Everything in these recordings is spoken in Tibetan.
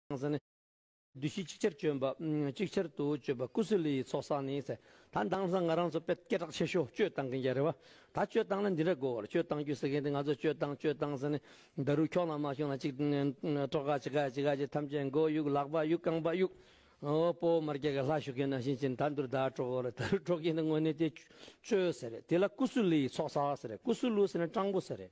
ཁང་ས་ནི། བདུད་བཞི་གཅིག་ཆར་སྤྱོད་པ། གཅིག་ཆར་དུ་སྤྱོད་པ་ཀུ་སུ་ལི་ཡི་ཚོགས་བསགས་ནས། ད་འདང་ས་ང་རང་ཚོ་དཔེ་སྐད་གྲགས་ཆེ་ཤོས་སྤྱོད་བཏང་གིན་རྒྱ་རེད་བ། ད་སྤྱོད་བཏང་ན་འདི་འདྲ་དགོས་བར་སྤྱོད་བཏང་རྒྱུ་ཟེར་མཁན་དེ་ང་ཚོ་སྤྱོད་བཏང་སྤྱོད་བཏང་ས་ནི། འདར་རུ་ཁྱོག་ན་མ་ཁྱོག་ན་ཅིག། སྤྲོ་ག་ཅི་ག་ཅི་ག་ཅི་ཐམས་ཅད་མགོ་གཡུག་ལག་པ་གཡུག་རྐང་པ་གཡུག། ཨོའོ་སྤོ་བོ་མར་རྒྱ་གར་ལྷ་བཞུགས་མཁན་ནང་བཞིན་ཅི་ད་འདུར་ད་སྤྲོ་གོ་རེད་ད་རུ་སྤྲོ་མཁན་དེ་དངོས་གནས་དེ་སྤྱོད་ཟེར་རེད་དེ་ལ་ཀུ་སུ་ལི་ཡི་ཚོགས་བསགས་ཟེར་རེད་ཀུ་སུ་ལུ་ཟེར་ན་སྤྲང་པོ་ཟེར་རེད།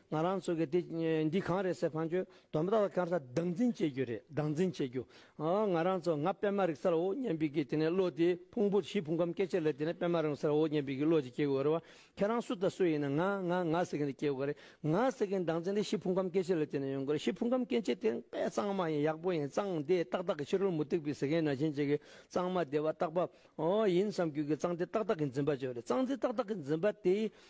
ང་རང་ཚོ་གིས་འདི་གང་རེད་ཟེར་ཕངས་རྒྱུ་དོན་མེད་དཀར་གསལ་སྡང་འཛིན་བྱེད་རྒྱུ་རེད་སྡང་འཛིན་བྱེད་རྒྱུ། ང་རང་ཚོ་ང་པད་མ་རིག་སར་འོ་སྙམ་པའི་གི་དེ་ནས་བློ་དེ་ཕུང་པོ་བཞི་ཕུང་ཁམས་སྐད་ཆ་ལས་དེ་ནས་པད་མ་རིང་སར་འོ་སྙམ་པའི་གི་བློ་དེ་སྐྱེ་དགོས་རེད་བ། ཁྱེད་རང་སུ་དང་སུ་ཡིན་ན་ང་ང་ང་ཟེར་གི་འདི་སྐྱེ་དགོས་རེད་ང་ཟེར་གི་སྡང་འཛིན་དེ་བཞི་ཕུང་ཁམས་སྐད་ཆ་ལས་དེ་ནས་ཡོང་དགོས་རེད་བཞི་ཕུང་ཁམས་སྐད་ཆ་དེ་དཔེ་གཙང་མ་ཡིན་ཡག་པོ་ཡིན་གཙང་དེ་ཏག་ཏག་གི་ཕྱི་རོལ་མུ་སྟེགས་པའི་ཟེར་མཁན་ན་ཆེན་བྱེད་གི་གཙང་མ་དེ་བ་རྟག་པ། ཡིན་བསམ་རྒྱུ་གི་གཙང་དེ་ཏག་ཏག་གི་འཛིན་པ་བྱོས་རེད་གཙང་འཛིན་ཏག་ཏག་གི་འཛིན་པ་དེ་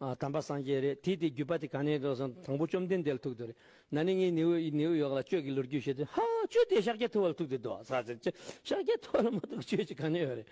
དམ་པ་སངས་རྒྱས་རེད་དེ་དེ་བརྒྱུད་པ་དེ་ག་ནས་དྲོ་སོང་དང་པོ་བཅོམ་ལྡན་འདས་ལ་ཐུག་དོ་རེད་ན་ནི་ངའི་ནེའུ་ནེའུ་ཡོག་ལ་ཁྱོད་ཀྱི་ལོ་རྒྱུས་བཤད་དུས་ཧ་ཁྱོད་དེ་ཤཱཀྱ་ཐུབ་བ་ལ་ཐུག་དེ་དོ་ཟ་ཟེར་ཁྱོད་ཤཱཀྱ་ཐུབ་བ་ལ་མ་གཏུགས་ཁྱོད་ཀྱི་ག་ནས་ཡོད་རེད་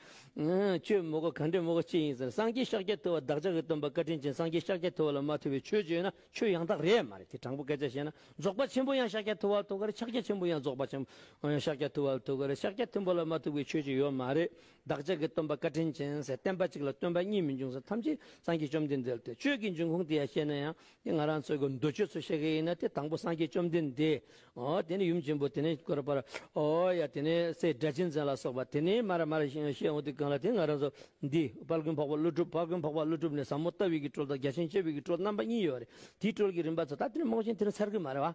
ཁྱོད་མོ་གོ་ག་འདྲའི་མོ་གོ་ཅི་ཡིན་ཟེར་སངས་རྒྱས་ཤཱཀྱ་ཐུབ་བ་བདག་ཅག་གི་སྟོན་པ་བཀའ་དྲིན་ཅན་སངས་རྒྱས་ཤཱཀྱ་ཐུབ་བ་ལ་མ་ཐུབ་པའི་ཆོས་བརྗོད་ན་ཆོས་ཡང་དག་རེད་མ་རེད་དེ་དྲང་པོ་སྐད་ཆ་བཤད་ན་རྫོགས་པ་ཆེན་པོ་ཡང་ཤཱཀྱ་ཐུབ་བ་ལ་ཐུག་ག་རེད་ཕྱག་རྒྱ་ཆེན་པོ་ཡང་རྫོགས་པ་ཆེན་པོ་ཡང་ཤཱཀྱ་ཐུབ་བ་ལ་ཐུག་ག་རེད་ཤཱཀྱ་ཐུབ་བ་ལ་མ་ཐུག་པའི་ཆོས་ཅི་ཡོད་མ་རེད་བདག་ཅག་གི་སྟོན་པ་བཀའ་དྲིན་ཅན་ཟེར་བསྟན་པ་གཅིག་ལ་སྟོན་པ་གཉིས་མི་འབྱུང་ཟེར་ཐམས་ཅད་སངས་རྒྱས་བཅོམ་ལྡན་འདས་ཏེ་ཆོས་ཀྱི་འབྱུང་ཁུངས་དེ་ཡང་ཤེས་ན་ཡང་དེ་ང་རང་ཚོའི་གི་འདོད་ཆོས་ཚོ་ཤེས་གི་ཡིན་ན་དེ་དང་པོ་སངས་རྒྱས་བཅོམ་ལྡན་འདས་ཨོ་དེ་ནས་ཡུམ་ཆེན་པོ་དེ་ནས་དཀོར་དཔལ་ཨོ་ཡ་དེ་ནས་སྲས་སྒྲ་གཅན་འཛིན་ལ་སོགས་པ་དེ་ནས་མར་མར་ཤེས་འོང་དེ་གང་ལ་དེ་ང་རང་ཚོ་འདི་དཔལ་མགོན་འཕགས་པ་ཀླུ་སྒྲུབ་དཔལ་མགོན་འཕགས་པ་ཀླུ་སྒྲུབ་ནས་ཟབ་མོ་ལྟ་བའི་གི་སྤྲོལ་དང་རྒྱ་ཆེན་སྤྱོད་པའི་གི་སྤྲོལ་རྣམ་པ་གཉིས་ཡོད་རེད་དེའི་སྤྲོལ་གྱི་རིམ་པ་ཚོ་ད་དེ་ནས་རྨོངས་ཆེན་དེ་ནས་ཚར་གི་མ་རེད་བ།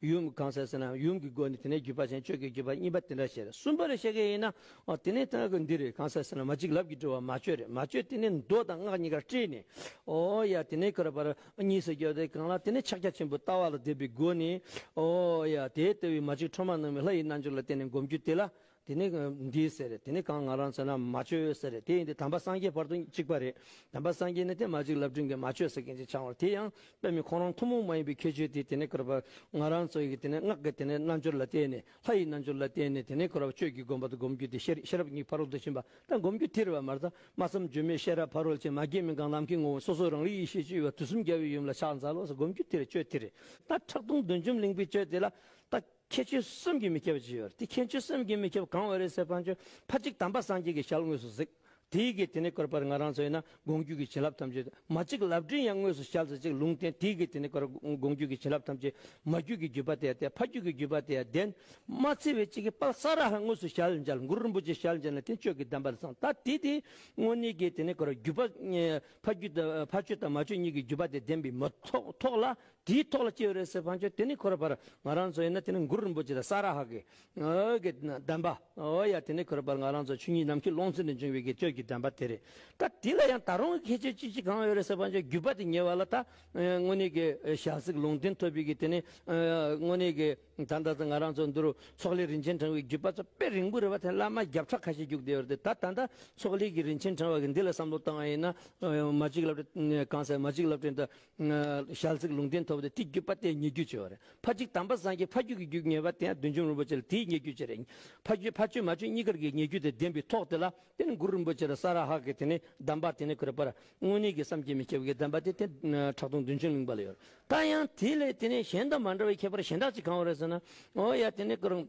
ཡུམ་གང་ཟེར་ཟེར་ན་ཡུམ་གྱི་སྒོ་ནི་དེ་ནས་བརྒྱུད་པ་ཅན་ཆོས་ཀྱི་བརྒྱུད་པ་གཉིས་པ་དེ་འདྲ་ཞེས་གསུམ་པ་རེ་བཤད་ཀྱི་ཡིན་ན། དེ་ནས་ཐང་གི་འདི་རེ་གང་ཟེར་ཟེར་ན་མ་གཅིག་ལབ་ཀྱི་འགྲོ་བ་མ་བཅོས་རེ་མ་བཅོས་དེ་ནས་མདོ་དང་སྔགས་གཉིས་ཀ་བཀྲལ་ནས། ཨོ་ཡ་དེ་ནས་འཁོར་བར་གཉིས་སུ་གྱུར་ཏེ་གང་ལ་དེ་ནས་ཕྱག་རྒྱ་ཆེན་པོའི་ལྟ་བ་ལ་བཟླས་པའི་སྒོ་ནས། ཨོ་ཡ་དེའི་ལྟེ་བའི་མ་གཅིག་འཕྲོ་མ་ནང་བའི་ལྷ་ཡི་རྣལ་འབྱོར་ལ་བརྟེན་ནས་བསྒོམ་རྒྱུ་དེ་ལ་དེ་ནི་འདི་ཟེར་རེད་དེ་ནི་གང་ང་རང་ཚོ་ན་མ་བཅོས་ཟེར་རེད་དེ་ཡིན་དུས་དམ་པ་སངས་རྒྱས་བར་དུ་གཅིག་པ་རེད་དམ་པ་སངས་རྒྱས་ནི་དེ་མ་གཅིག་ལབ་སྒྲིན་གྱི་མ་བཅོས་ཟེར་མཁན་གཅིག་ཆང་བར་དེ་ཡང་དཔེ་མི་ཁོང་རང་ཐུན་མོང་མ་ཡིན་པའི་ཁྱད་ཆོས་དེ་དེ་ནི་ཁོ་ར་བར་ང་རང་ཚོ་ཡི་དེ་ནི་སྔགས་ཀྱི་དེ་ནི་རྣལ་འབྱོར་ལ་བརྟེན་ནས་ལྷ་ཡི་རྣལ་འབྱོར་ལ་བརྟེན་ནས་དེ་ནི་ཁོ་ར་བར་ཆོས་ཀྱི་དགོངས་པ་དང་སྒོམ་རྒྱུ་དེ་ཤེས་ཤེས་རབ་གཉིས་ཕ་རོལ་ཏུ་ཕྱིན་པ་དང་སྒོམ་རྒྱུ་ཐེར་བ་མ་རྩ་མ་བསམ་བརྗོད་མེད་ཤེས་རབ་ཕ་རོལ་ཕྱིན་མ་རྒྱས་མིན་གང་ལམ་གྱི་ངོ་བོ་སོ་སོ་རང་རིག་ཡེ་ཤེས་སྤྱོད་པ་དུས་གསུམ་རྒྱལ་བའི་ཡུམ་ལ་ཕྱག་འཚལ་ལོ་སོགས་སྒོམ་རྒྱུ་དེར་སྤྱོད་དེ་རེད་ད་ཁྲག་འཐུང་བདུན་འཇོམས་གླིང་པའི་སྤྱོད་དེ་ལ་ད། ཁྱེད་ཆོས་སེམས་ཀྱིས་མི་ཁྱབ་བགྱི་བར་དེ་ཁྱེད་ཆོས་སེམས་ཀྱིས་མི་ཁྱབ་གང་བའི་རིགས་སེ་བྷ་ཆོས་ཕ་གཅིག་དམ་པ་སངས་རྒྱས་ཀྱི་ཞལ་དངོས་སུ་གཟིགས། དེའི་གེགས་དེ་ནི་བཀོད་པར་ང་རང་ཚོ་ཡིན་ན་དགོངས་བརྒྱུད་ཀྱི་བྱིན་རླབས་ཐམས་ཅད་མ་གཅིག་ལབ་སྤྲིན་ཡང་དངོས་སུ་ཞལ་གཟིགས་ཅིག་ལུང་བསྟན་དེའི་གེགས་དེ་ནི་བཀོད་དགོངས་བརྒྱུད་ཀྱི་བྱིན་རླབས་ཐམས་ཅད་མ་བརྒྱུད་ཀྱི་བརྒྱུད་པ་དེ་ཡང་སྟེ་ཕ་བརྒྱུད་ཀྱི་བརྒྱུད་པ་དེ་ཡང་ལྡན། མ་ཚེ་བའི་གཅིག་གིས་དཔག་བསམ་ར་ཧ་དངོས་སུ་ཞལ་མཇལ་མགུར་རིན་པོ་ཆེ་ཞལ་མཇལ་ན་དེ་ཆོས་ཀྱི་གདམས་པར་བཟང་ད་དེ་དེའི་དངོས་གནས་གེགས་དེ་ནི་བཀོད་བརྒྱུད་ཕ་བརྒྱུད་ཕ་ཆོས་དང་མ་ཆོས་གཉིས་ཀྱི་བརྒྱུད་པ་དེ་ལྡན་པས་མི་ཐོགས་ལ་དེའི་ཐོག་ལ་སྐྱེས་ཡོད་རེད་ཟེར་བར་ཆོད་དེ་ནི་ཁོ་ར་བར་ང་རང་ཚོ་ཡིན་ན་དེ་ནི་མགུར་རིན་པོ་ཆེ་དང་ས་ར་ཧ་གི་གི་གདམས་པ་ཨོ་ཡ་དེ་ནི་ཁོ་ར་བར་ང་རང་ཚོ་ཆོས་ཉིད་ནམ་མཁའི་ཀློང་ཚུལ་ནས་འབྱུང་བའི་དགེ་ཆོས་ཀྱི་གདམས་པ་དེ་རེད་ད་དེ་ལ་ཡང་ད་རུང་ཁྱད་ཆོས་ཅི་ཞིག་གང་ཡོད་རེད་ཟེར་བར་ཆོད་བརྒྱུད་པ་དེ་ཉེ་བ་ལ་ད་དངོས་གནས་ཀྱི་ཞག་ཚིག་ལུང་བསྟན་ཐོབ་ཡོད་གི་དེ་ནི་དངོས་གནས་ཀྱི་ད་ལྟ་ད་ང་རང་ཚོ་འདི་རུ་ཚོགས་ལས་རིན་ཆེན་དྲངས་བའི་བརྒྱུད་པ་ཚོ་དཔེ་རིང་པོ་རེད་བ་དེ་བླ་མ་བརྒྱ་ཕྲག་ཁ་ཤས་བརྒྱུགས་བསྡད་ཡོད་རེད་དེ་ད་ད་ལྟ་ཚོགས་ལས་ཀྱི་རིན་ཆེན་དྲངས་བ་གི་འདི་ལ་བསམ་བློ་བཏང་བ་ཡིན་ན་མ་ཅིག་ལབ་གང་ཟེར་མ་ཅིག་ལབ་ཕྲན་དུ་ཞལ་གཟིགས་ལུང་བསྟན་ཐོབ་སྟེ་ཏིག་བརྒྱུད་པ་སྟེ་ཉེ་བརྒྱུད་ཆེ་བ་རེད། ཕ་གཅིག་དམ་པ་སངས་རྒྱས་ཕ་རྒྱུད་ཀྱི་རྒྱུད་ངེས་པ་དེ་ཡང་བདུད་འཇོམས་རིན་པོ་ཆེ་ལ་དེའི་ཉེ་བརྒྱུད་ཅིག་རེད། ཕ་རྒྱུད་ཕ་ཆོས་མ་ཆོས་གཉིས་ཀར་གྱི་ཉེ་བརྒྱུད་དེ་བདེན་པའི་ཐོག་དེ་ལ་བརྟེན་གུ་རུ་རིན་པོ་ཆེ་ལ་ས་ར་ཧ་གི་དེ་ནས་གདམས་པ་དེ་ནས་གུ་ར་པ་ར་དངོས་གནས་ཀྱི་བསམ་གྱིས་མི་ཁྱབ་ཀྱི་གདམས་པ་དེ་དེ་ཁྲག་འཐུང་བདུན་ཅུ་གླིང་པ་ལ་ཡོད་རེད། ད་ཡང་དེ་ལས་དེ་ནས་གཞན་དང་མ་འདྲ་བའི་ཁྱད་པར་གཞན་དག་ཅིག་གང་བ་རེད་ཟེར་ན། འོ་ཡ་དེ་ནས་གུ་རུ།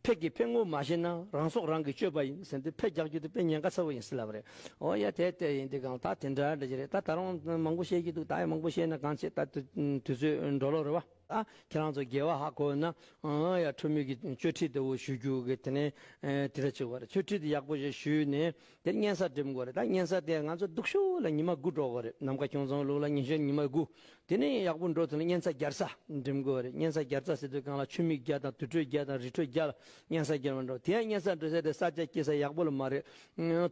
ཕས་ཀྱི་ཕས་ངོ་མ་ཤེས་ན་རང་སྲོག་རང་གིས་གཅོད་པ་ཡིན་ཟེར་འདི་ཕས་རྒྱག་རྒྱུ་དེ་དཔེ་ཉེན་ཁ་ཚ་བོ་ཡིན་སྲིད་ལབ་རེད་ཨོ་ཡ་དེ་དེ་ཡིན་དེ་གང་ད་དེ་འདྲ་འདྲ་ཅི་རེད་ད་ད་རུང་མང་པོ་བཤད་ཀྱི་འདུག་ད་ཡང་མང་པོ་བཤད་ན་གང་བྱེད་ད་དུས་ཚོད་འགྲོ་ལོག་རེད་བ། ཨ་ཁྱེད་རང་ཚོ་རྒྱལ་བ་ཧ་གོ་ན་ཨོ་ཡ་ཁྲོ་མོས་ཀྱི་ཅོ་ཁྲི་དེ་བོ་ཞུ་རྒྱུ་གི་དེ་ནས་དེ་འདྲ་ཅིག་བ་རེད་ཆོ་ཁྲི་དེ་ཡག་པོ་ཞིག་ཞུས་ནས་དེར་གཉན་གཟར་འགྲིམ་དགོས་རེད་ད་གཉན་གཟར་དེ་ང་ཚོ་སྡུག་ཤོས་ལ་ཉི་མ་དགུ་འགྲོ་དགོས་རེད་ནམ་མཁའ་ཁྱུང་ཚང་ལུགས་ལ་ཉིན་ཞོར་ཉི་མ་དགུ་དེ་ནས་ཡག་པོ་འགྲོ་ཐུབ་ན་གཉན་གཟར་བརྒྱར་ས་འགྲིམ་དགོས་རེད་གཉན་གཟར་བརྒྱར་རྩ་ཟེར་དུས་རྐང་ལག་ཆུ་མིག་བརྒྱ་དང་དུར་ཁྲོད་བརྒྱ་དང་རི་ཁྲོད་བརྒྱ་ལ་གཉན་གཟར་བརྒྱར་མ་འགྲོ་དེ་ཡང་གཉན་གཟར་འགྲོ་ས་དེ་ས་ཆ་སྐྱེལ་ས་ཡག་པོ་ལ་མ་རེད་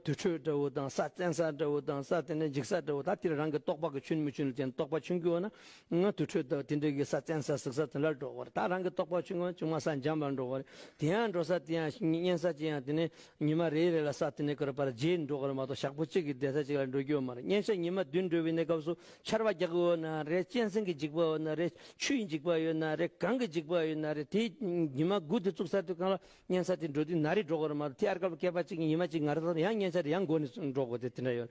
དུར་ཁྲོད་འདྲ་བོ་དང་ས་བཙན་ས་འདྲ་བོ་དང་ས་དེ་ནས་འཇིག་ས་འདྲ་བོ་ད་དེར་རང་གི་རྟོག་པ་གི་ཆུན་མི་ཆུན་ལ་བརྟེན་རྟོག་པ་ཆུན་སྐྱུག་ན་སྔོན་དུར་ཁྲོད་དུ་དེ་འདྲ་གི་ས་བཙན་ས་ཟུག་ས་དེ་འདྲར་འགྲོ་བར་ད་རང་གི་རྟོགས་པ་ཆུང་ངུ་ཆུང་མ་ས་འཇམ་པར་འགྲོ་བར་དེ་ཡང་འགྲོ་ས་དེ་ཡང་གཉན་ས་ཅི་ཡང་དེ་ནས་ཉི་མ་རེ་རེ་ལ་ས་དེ་འདྲ་གི་རུ་བར་རྗེས་འགྲོ་བར་མ་གཏོགས་ཞག་པོ་གཅིག་གི་བསྡད་ས་ཅིག་ལ་འགྲོ་རྒྱུ་མ་རེད་གཉན་ས་ཉི་མ་བདུན་འགྲོ་བའི་གནས་སྐབས་སུ་ཆར་བ་རྒྱག་གི་འོ་ན་རེད་གཅན་གཟན་གྱི་འཇིགས་པ་འོ་ན་རེད་ཆུའི་འཇིགས་པ་ཡོད་ན་རེད་གངས་ཀྱི་འཇིགས་པ་ཡོད་ན་རེད་དེ་ཉི་མ་དགུ་དེ་བཙུགས་ས་དེ་གང་ལ་གཉན་ས་དེ་འགྲོ་དུས་ན་རེ་འགྲོ་བར་མ་གཏོགས་དེ་ཨར་སྐབས་སྐལ་པ་གཅིག་གི་ཉི་མ་གཅིག་ང་རེ་ད་ཡང་གཉན་ས་དེ་ཡང་འགོར་ནས་འགྲོ་དགོས་དེ་དེ་འདྲ་ཡོད་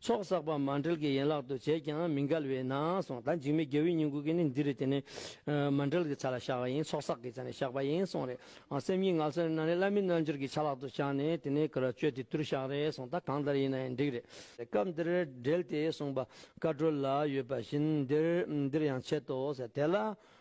ཚོགས་བསགས་པ་མ་འབྲེལ་གྱི་ཡན་ལག་ཏུ་བྱས་ཀྱང་མི་འགལ་བས་ན་གསུངས་ད་འཇིགས་མེད་རྒྱལ་བོའི་སྙིང་པོ་གིས་ནི་འདི་རུ་དེ་ནི། མ་འབྲེལ་གྱི་ཆ་ལ་བཞག་པ་ཡིན་ཚོགས་བསགས་ཀྱི་ཆ་ནས་བཞག་པ་ཡིན་གསུངས། རེད་ཨང་སེམས་ཉིད་ངག་སེར་སྣ་ནི་བླ་མེད་རྣལ་འབྱོར་གྱི་ཆ་ལག་ཏུ་བཞག་ནས་དེ་ནས་ཀར་སྤྱོད་དེ་དུར་བཞག་རེད་གསུངས་ད་གང་ལྟར་ཡིན་ན་ཡང་འགྲིག་རེད། སྐབས་འདིར་འབྲེལ་ཏེ་གསུངས་པ། བཀའ་འགྲོ་ལ་ཡོད་པ་བཞིན་འདིར་ཡང་འཆད་དོ། དེ་ལ།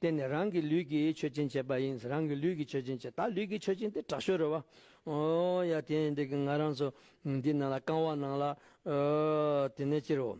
བརྟེན་ནས་རང་གི་ལུས་ཀྱིས་མཆོད་སྦྱིན་བྱེད་པ་ཡིན། རང་གི་ལུས་ཀྱིས་མཆོད་སྦྱིན་བྱེད། ད་ལུས་ཀྱིས་མཆོད་སྦྱིན་དེ་དྲག་ཤོས་རེད་བ། ཡ་དེ་འདི་གི་ང་རང་ཚོ་འདི་ནང་ལ་རྐང་བ་ནང་ལ། དེ་ནས་སྤྱིར་རོ།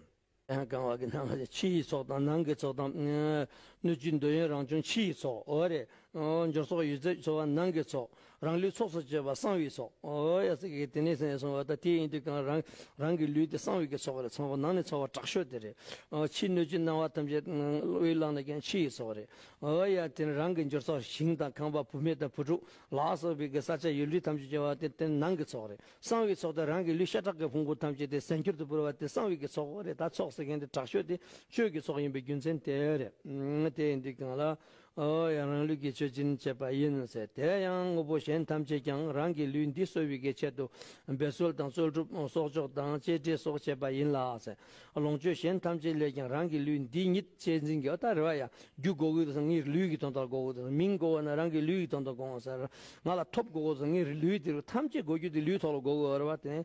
རྐང་བ་གི་ནང་ལ་ཕྱི་ཡི་ཚོགས་དང་ནང་གི་ཚོགས་དང། སྣོད་བཅུད་འདོད་ཡོན་རང་བྱུང་ཕྱི་ཡི་ཚོགས། འབྱོར་ཚོགས་ཡོད་ཚད་འཚོ་བ་ནང་གི་ཚོགས། རང་ལུས་ཚོགས་སུ་སྤྱོད་པ་གསང་བའི་ཚོགས། དེ་ནས་སོང་བ་ད་དེ་ཡིན་དུས་གང་རང་རང་གི་ལུས་དེ་གསང་བའི་ཚོགས་རེད་ཚང་བ་ནང་ནས་ཚོགས་བ་དྲག་ཤོས་དེ་རེད། ཕྱིའི་སྣོད་བཅུད་སྣང་བ་ཐམས་ཅད་དབུས་བླངས་ན་ཀྱང་ཕྱི་ཡི་ཚོགས་རེད། དེ་ནས་རང་གི་འབྱོར་ཚོགས་ཞིང་དང་ཁང་པ་བུད་མེད་དང་བུ་ཕྲུག་ལག་སོགས་པའི་གི་ས་ཆ་ཡུལ་འདྲི་ཐམས་ཅད་སྤྱོད་བ་དེ་དེ་ནང་གི་ཚོགས་རེད། གསང་བའི་ཚོགས་དེ་རང་གི་ལུས་ཤ་ཁྲག་གི་ཕུང་པོ་ཐམས་ཅད་དེ་གཟན་སྐྱུར་དུ་བུར་བ་དེ་གསང་བའི་གི་ཚོགས་རེད་ད་ཚོགས་ཟེར་མཁན་དེ་དྲག་ཤོས་དེ་བཅོས་ཀྱི་ཚོགས་ཡིན་པའི་རྒྱུ་མཚན་དེ་རེད། དེ་ཡིན་དུས་གང་ལ་ཨོ་ཡང་རང་ལུས་ཀྱི་མཆོད་སྦྱིན་བྱེད་པ་ཡིན་ནོ་ཟེར་དེ་ཡང་དངོས་པོ་གཞན་ཐམས་ཅད་ཀྱང་རང་གི་ལུས་འདི་གསོ་བའི་ཆེད་དུ་འབད་རྩོལ་དང་རྩོལ་སྒྲུབ་གསོག་འཇོག་དང་གཅེས་སྤྲས་སོགས་བྱེད་པ་ཡིན་ལ། ལོངས་སྤྱོད་གཞན་ཐམས་ཅད་ལས་ཀྱང་རང་གི་ལུས་འདི་ཉིད་གཅེས་འཛིན་གྱི་ཨོ་ད་རི་བ་ཡ། རྒྱུ་བགོ་བའི་དུས་སུ་ངའི་ལུས་ཀྱི་དོན་དག་བགོ་བའི་དུས་སུ་མིང་བགོ་བ་ན་རང་གི་ལུས་ཀྱི་དོན་དག་བགོ་འོང་ཟེར། ང་ལ་ཐོབ་བགོ་བའི་དུས་སུ་ངའི་ལུས་དེ་རུ་ཐམས་ཅད་བགོ་རྒྱུ་དེ་ལུས་ཐོག་ལ་བགོ་བའི་ཨོ་རི་བ་དེ་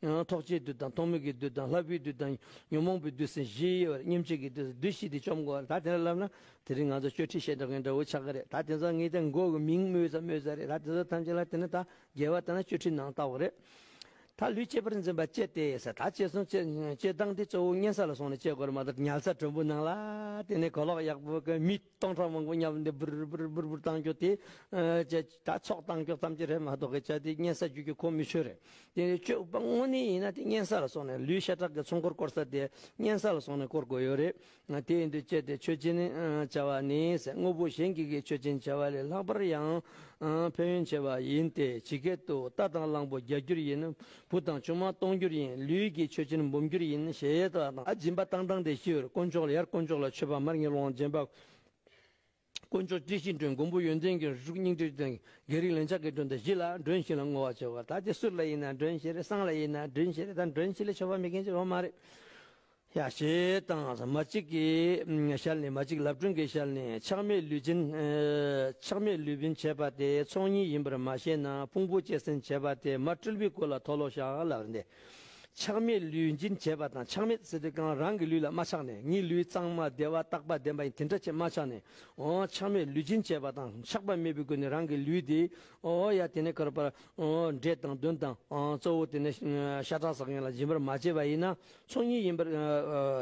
ཐོགས་བཅས་བདུད་དང་ཐོགས་མེད་ཀྱི་བདུད་དང་ལྷ་བུའི་བདུད་དང་ཉོན་མོངས་པའི་བདུད་སེམས་བཞི་ཡོད་པར་སྙེམས་བྱེད་ཀྱི་བདུད་བདུད་བཞི་དེ་བཅོམ་དགོས་བར་ད་དེ་འདྲ་ལབ་ན་དེ་རིང་ང་ཚོ་གཅོད་ཁྲི་ཞེ་དྲག་གི་འདྲ་བོ་ཆགས་ཀྱི་རེད་ད་དེ་ཚོ་ངེད་ཅག་མགོ་གི་མིང་སྨོས་ས་སྨོས་ས་རེད་ད་དེ་ཚོ་ཐམས་ཅད་ལ་བལྟས་ན་ད་རྒྱལ་བ་ལྟ་ན་གཅོད་ཁྲི་ནང་ལྟ་བུ་རེད། ད་ལུས་གཅེས་པར་འཛིན་པ་བཅས་ཏེ་ས་ད་བཅད་སོང་བཅད་བཅད་བཏང་སྟེ་གཙོ་བོ་གཉན་ས་ལ་སོང་ནས་བཅད་དགོས་རེད་མ་གཏོགས་ཉལ་ས་དྲོན་པོ་ནང་ལ་བལྟས་ནས་གོ་ལོག་ཡག་པོ་གི་མི་སྟོང་ཕྲག་མང་པོ་མཉམ་སྡེབ་འབུར་འབུར་འབུར་འབུར་བཏང་རྒྱུ་དེ། ད་ཚོགས་བཏང་རྒྱུ་ཙམ་གྱིས་རེད་མ་གཏོགས་སྐད་ཆ་དེ་གཉན་ས་བརྒྱུད་རྒྱུ་གོ་མི་ཆོད་རེད། དེ་ནས་སྤྱོད་པ་དངོས་གནས་ཡིན་ན་དེ་གཉན་ས་ལ་སོང་ནས་ལུས་ཤ་ཁྲག་གི་ཚོང་སྐོར་སྐོར་ས་དེ་གཉན་ས་ལ་སོང་ནས་སྐོར་དགོས་ཡོད་རེད། དེ་ཡིན་དུས་སྤྱད་དེ་ཆོས་སྦྱིན་བྱ་བ་ནི་དངོས་པོ་གཞན་གྱི་གིས་ཆོས་སྦྱིན་བྱ་བ་ལས་ལྷག་པར་ཡང་ཕན་ཡོན་ཆེ་བ་ཡིན་ཏེ་ཇི་སྐད་དུ་རྟ་དང་གླང་པོ་བརྒྱ་འགྱུར་ཡིན། བུ་དང་ཆུང་མ་སྟོང་འགྱུར་ཡིན་ལུས་ཀྱི་མཆོད་སྤྱིན་འབུམ་འགྱུར་ཡིན་ཞེས་ཡས་སྟགས་དང་ཨ་སྦྱིན་པ་བཏང་བཏང་སྟེ་ཤི་བར་དཀོན་མཆོག་ལ་ཡར་དཀོན་མཆོག་ལ་མཆོད་པ་མར་ངེས་ལོངས་སྦྱིན་པ། དཀོན་མཆོག་སྤྲིན་བཞིན་སྒྲོན་མགོན་པོ་ཡོན་ཏན་གྱི་རུ་དྲུག་སྙིང་ཏིག་དང་རྒྱལ་རིགས་ལན་ཆགས་ཀྱི་སྒྲོན་དང་བཞི་ལ་སྒྲོན་བཞི་ལ་བསྔོ་བ་བྱེད་པ་ད་ཅི་སུ་ལ་ཡིན་ན་སྒྲོན་བཞི་རེད་སང་ལ་ཡིན་ན་སྒྲོན་བཞི་རེད་ད་སྒྲོན་བཞི་ལས་ཆོག་པ་མི་མཁན་ཅི་ཡང་མ་རེད། ཡང་ཞེས་དང་མ་གཅིག་གིས་ཤར་ནས་མ་གཅིག་ལབ་སྒྲོན་གྱི་ཤར་ནས་ཆགས་མེད་ལུས་འབྱིན། ཆགས་མེད་ལུས་འབྱིན་བྱེད་པ་དེ་ཚོགས་གཉིས་ཡིན་པར་མ་ཤེས་ན་ཕུང་པོ་སྐྱེད་སྲིང་བྱེད་པ་དེ་མ་སྤྲུལ་པའི་སྐུ་ལ་མཐོལ་ལོ་བཤགས་ལ་རེ་འདས། ཆགས་མེད་ལུས་འབྱིན་བྱེད་པ་དང་ཆགས་མེད་སྲིད་དུ་གང་རང་གི་ལུས་ལ་མ་ཆགས་ནས་ངའི་ལུས་གཙང་མ་བདེ་བ་རྟག་པ་བདེན་པ་ཡིན་དེ་འདྲ་ཆེས་མ་ཆགས་ནས། ཆགས་མེད་ལུས་འབྱིན་བྱེད་པ་དང་ཆགས་པ་མེད་པའི་སྒོ་ནས་རང་གི་ལུས་དེ། ཡང་དེ་ནས་ཁར་པར། འབྲས་དང་བདུན་དང། གཙོ་བོ་དེ་ནས་ཤ་ཁྲག་ཟགས་ཡན་ལག་འབྱིན་པར་མ་བྱས་པ་ཡིན་ན། ཚོགས་གཉིས་ཡིན་པར་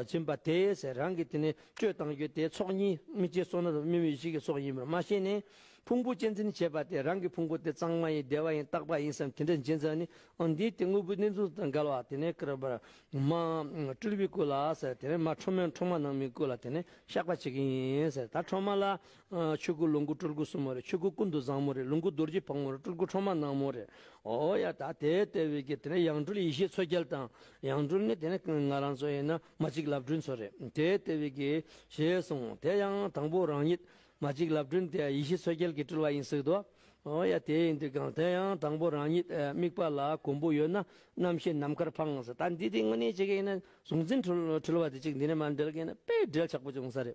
བྱིན་པ་དེས་རང་གི་དེ་ནས་སྤྱོད་བཏང་རྒྱུ་དེ་ཚོགས་གཉིས་དམིགས་བྱའི་སོ་ན་རུ་སྨིན་བའི་གཞི་གི་ཚོགས་ཡིན་པར་མ་ཤེས་ནས། ཕུང་པོ་གཅེས་འཛིན་བྱེད་པ་དེ་རང་གི་ཕུང་པོ་དེ་གཙང་མ་ཡིན་བདེ་བ་ཡིན་རྟག་པ་ཡིན་བསམ་དེ་འདྲ་འབྱིན་ཙམ་ནི་ཨོ་འདི་དེ་དངོས་པོའི་གནས་ཚུལ་དང་འགལ་བ་དེ་ནས་བསྐུར་བར་མ་སྤྲུལ་བས་བསྐུར་ལ་དེ་ནས་མ་ཁྲོ་མོས་འཕྲོག་མ་ནང་མིས་བསྐུར་ལ་དེ་ནས་བཤགས་པ་བྱེད་ཀྱི་ཡིན་ད་ཁྲོ་མ་ལ། ཆོས་སྐུ་ལོངས་སྐུ་སྤྲུལ་སྐུ་གསུམ་མོ་རེད་ཆོས་སྐུ་ཀུན་ཏུ་བཟང་མོ་རེད་ལོངས་སྐུ་རྡོ་རྗེ་ཕག་མོ་རེད་སྤྲུལ་སྐུ་ཁྲོ་མ་ནག་མོ་རེད་ཨོ་ཡ་ད་དེ་ལྟ་བུའི་གེ་དེ་ནས་ཡང་སྤྲུལ་ཡེ་ཤེས་ཚོལ་རྒྱལ་དང་ཡང་སྤྲུལ་ནི་དེ་ནི་ང་རང་ཚོ་ཡིན་ན་མ་གཅིག་ལབ་སྤྲུལ་ཚོ་རེད་དེ་ལྟེ་བའི་གི། ཞེས་གསུང་དེ་ཡང་དང་པོ་རང་ཉིད་མ་གཅིག་ལབ་སྤྲུལ་དེ་ཡེ་ཤེས་འཚོལ་རྒྱལ་གི་སྤྲུལ་བ་ཡིན་སྲིད་དོ། ཨོ་ཡ་དེ་ཡིན་དུས་གང་དེ་ཡང་དང་པོ་རང་ཉིད་དམིགས་པ་ལ་གོང་བུ་ཡོད་ན་རྣམ་ཤེས་ནམ་མཁར་འཕངས་ཟེར་ད་འདི་དེ་དངོས་གནས་བྱེད་མཁན་ཡིན་ན་གཟུང་འཛིན་འཁྲུལ་བ་དེ་གཅིག་འདི་ནས་མ་འབྲལ་མཁན་ནི་དཔེ་འབྲེལ་ཆགས་པོ་བྱུང་ས་རེད།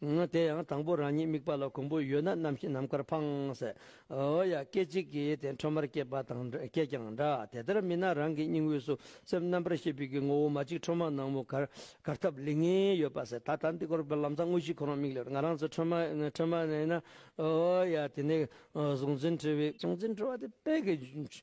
ངའི་དེ་ཡང་དང་པོ་རང་ཉིད་དམིགས་པ་ལ་གོམས་པོ་ཡོད་ན་རྣམ་ཤེས་ནམ་མཁར་འཕངས། ཨོ་ཡ་སྐད་ཅིག་གིས་དེ་འཕྲོ་མར་སྐྱེས་པ་དང་སྐྱེས་ཀྱང་འདྲ་དེ་ལྟར་མིན་ན་རང་གི་སྙིང་དབུས་སུ་སེམས་རྣམ་པར་ཤེས་པའི་གི་ངོ་བོ་མ་གཅིག་འཕྲོ་མ་ནག་མོ་གར་ཐབས་ལེགས་ངེས་ཡོད་པ་ཟད་ད་ལྟ་འདི་སྐོར་བར་ལམ་ཚང་དངོས་གཞིའི་ཁོ་རང་མིག་ལས་ང་རང་ཚོ་འཕྲོ་མ་ནས་ན་ཨོ་ཡ་དེ་ནས་གཟུང་འཛིན་འཁྲུལ་བའི། གཟུང་འཛིན་འཁྲུལ་བ་དེ་དཔལ་གྱི་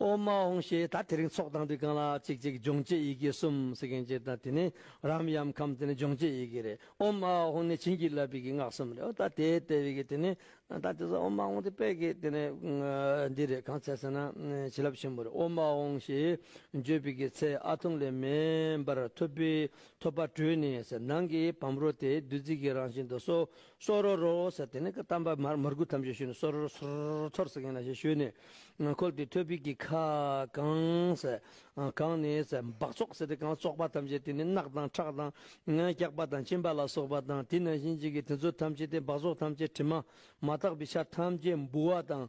ཨོ་མ་ཨོང་ཞེས་ད་དེ་རིང་ཚོགས་བཏང་དུས་རྐང་ལག་གཅིག་གཅིག་སྦྱོང་བྱེད་ཡི་གེ་གསུམ་ཟེར་མཁན་གཅིག་དང་དེ་ནི་རམ་ཡམ་ཁམ་དེ་ནི་སྦྱོང་བྱེད་ཡི་གེ་རེད་ཨོ་མ་ཨོང་ནི་བྱིན་གྱིས་བརླབས་པའི་གི་སྔགས་གསུམ་རེད་ཨོ་ད་དེའི་ལྟེ་བའི་གི་དེ་ནི་ད་དེ་ཟེར་ཨོ་མ་ཨོང་དེ་པད་གི་དེ་ནི་འདི་རེད་གང་ཚད་ཟེར་ན་བྱིན་རླབས་ཆེན་པོ་རེད་ཨོ་མ་ཨོང་ཞེས་བརྗོད་པའི་གི་ཚད་ཨ་ཐུང་ལས་མེ་འབར་ཐོད་པའི་ཐོད་པ་དྲུད་ནས་ཟེར་ནང་གི་བམ་རོ་དེ་བདུད་རྩི་གི་རང་བཞིན་དུ་སོ་སོ་རོ་རོ་ཟེར་དེ་ནས་གཏམ་པ་མར་མར་གུ་ཐམས་ཅད་ཞུས་ནས་སོ་རོ་རོ་སོར་ཚོར་ཟེར་མཁན་ལ་ཞེས་ཞུས་ནས། ཁོལ་ཏེ་ཐོད་སྤུད་ཀྱི་ཁ་གང་ཟེར། གང་ནི་ཟེར་འབག་བཙོག་ཟེར་དེ་གང་བཙོག་པ་ཐམས་ཅད་དེ་ནི་རྣག་དང་ཁྲག་དང། སྐྱག་པ་དང་གཅིན་པ་ལ་སོགས་པ་དང་དེ་ནང་བཞིན་ཅིག་གིས་དེ་ཚོ་ཐམས་ཅད་དེ་འབག་བཙོག་ཐམས་ཅད་དྲི་མ་མ་དག་པའི་ཆ་ཐམས་ཅད་འབུ་བ་དང།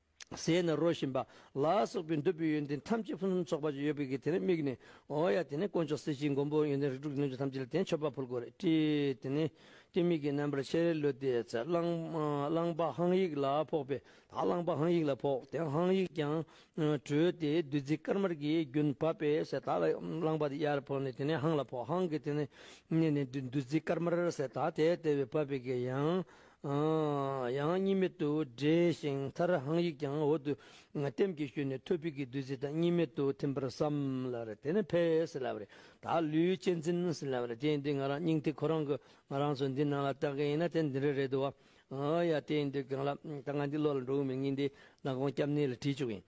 ཟས་ནི་རོ་བཞིན་པ་ལ་སོགས་པའི་འདོད་པའི་ཡོན་ཏན་ཐམས་ཅད་ཕུན་སུམ་ཚོགས་པ་ཅན་ཡོད་པའི་གེགས་དེ་ནི་དམིགས་ནས་འོ་ཡ་དེ་ནི་དཀོན་མཆོག་གསེར་གྱི་མགོན་པོ་ཡོན་ཏན་རིགས་དྲུག་གི་རྣལ་འབྱོར་ཐམས་ཅད་ལ་དེ་ནི་མཆོད་པ་ཕུལ་དགོས་རེད་དྲིས་དེ་ནི་ཀྱེ་མིག་གི་རྣམ་པར་ཤེས་རེ་ལོས་ཏེ་ཚེ་གླང་པ་ཧང་ཡིག་ལ་ཕོག་པས་ད་གླང་པ་ཧང་ཡིག་ལ་ཕོག་དེ་ཧང་ཡིག་ཀྱང་བྲོས་ཏེ་བདུད་རྩི་དཀར་དམར་གྱི་རྒྱུན་བབས་པས་ཟས་དག་ལ་གླང་པ་དེ་ཡར་ཕོག་ནས་དེ་ནི་ཧང་ལ་ཕོག་ཧང་གིས་དེ་ནི་བསྙེས་ནས་བདུད་རྩི་དཀར་དམར་ཟས་དག་དེ་ལྟེ་བའི་བབས་པའི་གེགས་ཡང་ཡང་གཉིས་མེད་དུ་འདྲེས་ཤིང་མཐར་ཧང་ཡིག་ཀྱང་འོག་ཏུ་ལྟེམ་གྱིས་ཞུས་ནས་ཐོད་ཕིག་གི་བདུད་རྩི་དང་གཉིས་མེད་དུ་ཐིམ་པར་བསམ། དེ་ནས་ཕས་སེ་ལ་བརེ་ད་ལུས་གཅེས་འཛིན་སེ་ལ་བརེ་དེ་འདི་ང་རང་སྙིང་ཐིག་ཁོ་རང་གི་ང་རང་ཚོ་འདི་ནང་ལ་བཏགས་མཁན་ཡིན་ན་དེ་འདི་འདྲ་རེད་དོ། ཡ་དེ་འདི་གང་ལ་ད་ང་འདི་བློ་ལ་འགྲོ་འོས་མིན་ངེད་འདི་ནག་གོང་སྐྱབས་གནས་ལ་བྲིས་བཅུག་ཡིན།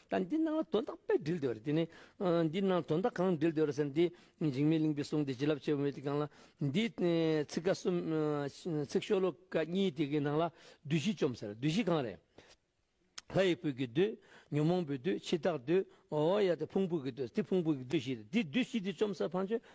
དང་འདི་སྣང་ལ་དོན་དག་པས་འདྲིལ་འདོད་རེད་དེ་ནི། འདི་སྣང་ལ་དོན་དག་གང་འདྲིལ་འདོད་རེད་ཟེར་ན་འདི་འཇིགས་མེད་གླིང་པའི་གསུང་དེ་བྱིན་རླབས་ཆེ་བ་མེད་དེ་གང་ལ། འདིའི་ཚིག་ཀ་གསུམ། ཚིག་ཤོ་ལོ་ཀ་གཉིས་དེ་གའི་ནང་ལ་བདུད་བཞི་བཅོམ་ཟེར་བདུད་བཞི་གང་རེད། ལྷ་ཡི་བུ་གི་བདུད། ཉོན་མོངས་པའི་བདུད་འཆི་བདག་བདུད། འོ་ཡ་དེ་ཕུང་པོ་གི་བདུད་དེ་ཕུང་པོ་གི་བདུད་བཞི་རེད་དེ་བདུད་བཞི་དེ་བཅོམ་ཟེར་བ་བྱོས་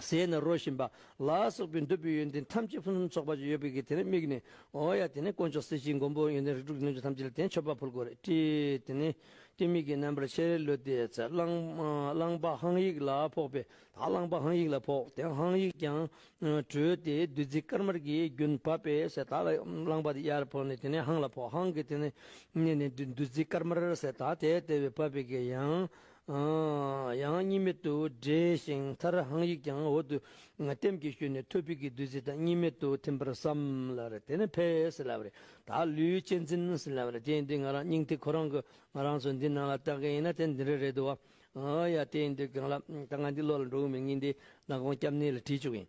ཟས་ནི་རོ་བཞིན་པ་ལ་སོགས་པའི་འདོད་པའི་ཡོན་ཏན་ཐམས་ཅད་ཕུན་སུམ་ཚོགས་པ་ཅན་ཡོད་པའི་གིས་དེ་ནི་དམིགས་ནས་འོ་ཡ་དེ་ནི་དཀོན་མཆོག་གསེར་གྱི་མགོན་པོ་ཡོན་ཏན་རིགས་དྲུག་གི་རྣལ་འབྱོར་ཐམས་ཅད་ལ་དེ་མཆོད་པ་ཕུལ་དགོས་རེད་དྲི། དེ་ནི་ལྟོས་མིག་གི་རྣམ་པར་ཤེས་རེ་བློས་ཏེ་ཚེ་གླང་པ་ཧང་ཡིག་ལ་ཕོག་པས་ད་གླང་པ་ཧང་ཡིག་ལ་ཕོག་དེ་ཧང་ཡིག་ཀྱང་བྲོས་ཏེ་བདུད་རྩི་དཀར་དམར་གྱི་རྒྱུན་བབས་པས་ཟས་ད་གླང་པ་དེ་ཡར་ཕོག་ནས་དེ་ནས་ཧང་ལ་ཕོག་ཧང་གིས་དེ་ནི་བསྙེས་ནས་བདུད་རྩི་དཀར་དམར་ཟས་ད་དེ་ལྟེ་བའི་བབས་པའི་གིས་ཡང་ཡང་གཉིས་མེད་དུ་འདྲེས་ཤིང་མཐར་ཧང་ཡིག་ཀྱང་འོག་ཏུ་ལྟེམ་གྱིས་ཞུས་ནས་ཐོད་སྤུས་ཀྱི་བདུད་རྩི་དང་གཉིས་མེད་དུ་ཐིམ་པར་བསམ། དེ་ནས་ཕས་སེ་ལ་བརེ། ད་ལུས་གཅེས་འཛིན། དེ་འདི་ང་རང་སྙིང་ཐིག་ཁོ་རང་གི་ང་རང་ཚོ་འདི་ནང་ལ་བཏགས་མཁན་ཡིན་ན་དེ་འདི་འདྲ་རེད་འདུག་བ། ཡ་དེ་འདི་གང་ལ་ད་ང་འདི་བློ་ལ་འགྲོ་གི་མི་ངེས་འདི་ནག་གོང་སྐྱབས་གནས་ལ་བྲིས་བཅུག་ཡིན།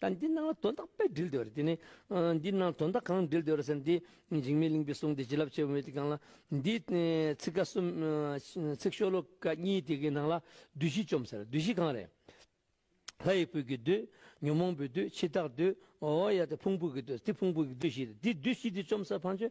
དང་འདི་སྣང་ལ་དོན་དག་པས་འདྲིལ་འདོད་རེད་དེ་ནི། འདི་སྣང་དོན་དག་གང་འདྲིལ་འདོད་རེད་ཟེར་ན་འདི་འཇིགས་མེད་གླིང་པའི་གསུང་དེ་བྱིན་རླབས་ཆེ་བ་མེད་དེ་གང་ལ། འདིའི་ཚིག་ཀ་གསུམ། ཚིག་ཤོ་ལོ་ཀ་གཉིས་དེ་གའི་ནང་ལ་བདུད་བཞི་བཅོམ་ཟེར་བདུད་བཞི་གང་རེད། ལྷ་ཡི་བུ་གི་བདུད། ཉོན་མོངས་པའི་བདུད་འཆི་བདག་བདུད། ཨོ་ཡ་དེ་ཕུང་པོ་གི་བདུད་དེ་ཕུང་པོ་གི་བདུད་བཞི་རེད་དེ་བདུད་བཞི་དེ་བཅོམ་ཟེར་བམ་ཆོས་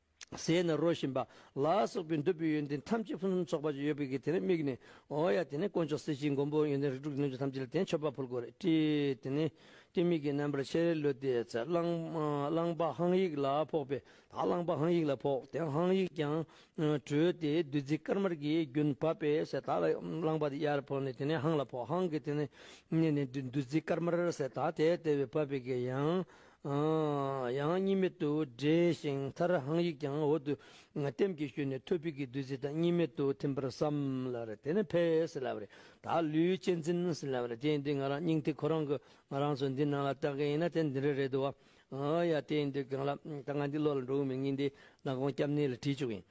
ཟས་ནི་རོ་བཞིན་པ་ལ་སོགས་པའི་འདོད་པའི་ཡོན་ཏན་ཐམས་ཅད་ཕུན་སུམ་ཚོགས་པ་ཅན་ཡོད་པའི་གེགས་དེ་ནི་དམིགས་ནས་འོ་ཡ་དེ་ནི་དཀོན་མཆོག་གསེར་གྱི་མགོན་པོ་ཡོན་ཏན་རིགས་དྲུག་གི་རྣལ་འབྱོར་ཐམས་ཅད་ལ་དེ་མཆོད་པ་ཕུལ་དགོས་རེད་དྲི། དེ་ནི་ལྟོས་མེད་ཀྱི་རྣམ་པར་ཤེས་རེ་ལོས་ཏེ་ཚེ་གླང་པ་ཧང་ཡིག་ལ་ཕོག་པས་ད་གླང་པ་ཧང་ཡིག་ལ་ཕོག་དེ་ཧང་ཡིག་ཀྱང་བྲོས་ཏེ་བདུད་རྩི་དཀར་དམར་གྱི་རྒྱུན་བབས་པས་ཟས་དག་ལ་གླང་པ་དེ་ཡར་ཕོག་ནས་དེ་ནས་ཧང་ལ་ཕོག་ཧང་གིས་དེ་ནས་བསྙེས་ནས་བདུད་རྩི་དཀར་དམར་ཟས་དག་དེ་ལྟེ་བའི་བབས་པའི་གེགས་ཡང་ཡང་གཉིས་མེད་དུ་འདྲེས་ཤིང་མཐར་ཧང་ཡིག་ཀྱང་འོག་ཏུ་ལྟེམ་གྱིས་ཞུས་ནས་ཐོད་ཕིག་གི་བདུད་རྩི་དང་གཉིས་མེད་དུ་ཐིམ་པར་བསམ་ལ། དེ་ནས་བྷེ་སི་ལ་བྷེ་ད་ལུས་གཅེས་འཛིན་སི་ལ་བྷེ་དེ་འདི་ང་རང་སྙིང་ཐིག་ཁོ་རང་གི་ང་རང་ཚོ་འདི་ནང་ལ་བཏགས་མཁན་ཡིན་ན་དེ་འདི་འདྲ་རེད་དོ། ཡ་དེ་འདི་གང་ལ་ད་ང་འདི་བློ་ལ་འགྲོ་གི་མི་ངན་འདི་ནག་གོང་སྐྱབས་གནས་ལ་བྲིས་བཅུག་ཡིན།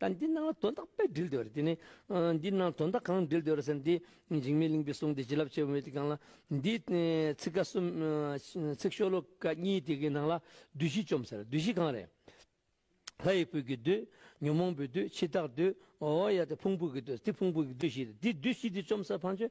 དང་འདི་སྣང་ལ་དོན་དག་པས་འདྲིལ་འདོད་ལ་དེ་ནི། འདི་སྣང་དོན་དག་གང་འདྲིལ་འདོད་ལ་ཟེར། འདིས་འཇིགས་མེད་གླིང་པའི་གསུང་དེ་བྱིན་རླབས་ཆེ་བ་མེད་དེ་གང་ལ། འདིས། ཚིག་ཀ་གསུམ། ཚིག་ཤོ་ལོ་ཀ་གཉིས་དེ་གའི་ནང་ལ། བདུད་བཞི་བཅོམ་ཟེར་བདུད་བཞི་གང་རེད། ལྷ་ཡི་བུ་གི་བདུད། ཉོན་མོངས་པའི་བདུད་འཆི་བདག་བདུད། ཨོ་ཡ་དེ་ཕུང་པོ་གི་བདུད་དེ་ཕུང་པོ་གི་བདུད་བཞི་རེད། འདི་བདུད་བཞི་འདི་བཅོམ་ཟེར་བམ་ཆོས།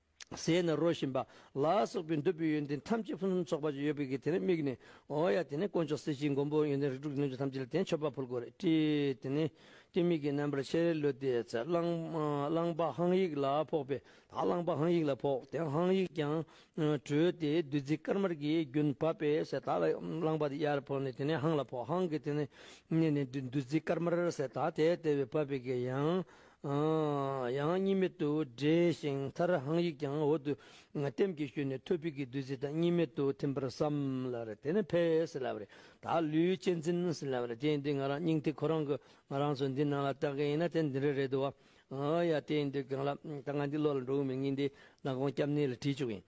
ཟས་ནི་རོ་བཞིན་པ་ལ་སོགས་པའི་འདོད་པའི་ཡོན་ཏན་ཐམས་ཅད་ཕུན་སུམ་ཚོགས་པ་ཅན་ཡོད་པའི་གེགས་དེ་ནི་དམིགས་ནས་འོ་ཡ་དེ་ནི་དཀོན་མཆོག་གསེར་གྱི་མགོན་པོ་ཡོན་ཏན་རིགས་དྲུག་གི་རྣལ་འབྱོར་ཐམས་ཅད་ལ་དེ་ནི་མཆོད་པ་ཕུལ་དགོས་རེད་དྲིས་དེ་ནི་ཀྱེ་མིག་གི་རྣམ་པར་ཤེས་རེ་ལོས་ཏེ་ཚེ་གླང་པ་ཧང་ཡིག་ལ་ཕོག་པས་ད་གླང་པ་ཧང་ཡིག་ལ་ཕོག་དེ་ཧང་ཡིག་ཀྱང་བྲོས་ཏེ་བདུད་རྩི་དཀར་དམར་གྱི་རྒྱུན་བབས་པས་ཟས་དག་ལ་གླང་པ་དེ་ཡར་ཕོག་ནས་དེ་ནི་ཧང་ལ་ཕོག་ཧང་གིས་དེ་ནི་བསྙེས་ནས་བདུད་རྩི་དཀར་དམར་ཟས་དག་དེ་ལྟེ་བའི་བབས་པའི་གེགས་ཡང་ཡང་གཉིས་མེད་དུ་འདྲེས་ཤིང་མཐར་ཧང་ཡིག་ཀྱང་འོག་ཏུ་ལྟེམ་གྱིས་ཞུས་ནས་ཐོད་སྤུས་ཀྱི་བདུད་རྩི་དང་གཉིས་མེད་དུ་ཐིམ་པར་བསམ། དེ་ནས་བྷེ་སི་ལ་བྷེ་དག་ལུས་གཅེས་འཛིན། དེ་འདི་ང་རང་སྙིང་ཐིག་ཁོ་རང་གི་ང་རང་ཚོ་འདི་ནང་ལ་བཏགས་མཁན་ཡིན་ན་དེ་འདི་འདྲ་རེད་དོ། ཡ་དེ་འདི་གང་ལ་ད་ང་འདི་བློ་ལ་འགྲོ་འོས་མིན་ངེད་འདི་ནག་གོང་སྐྱབས་གནས་ལ་བྲིས་བཅུག་ཡིན།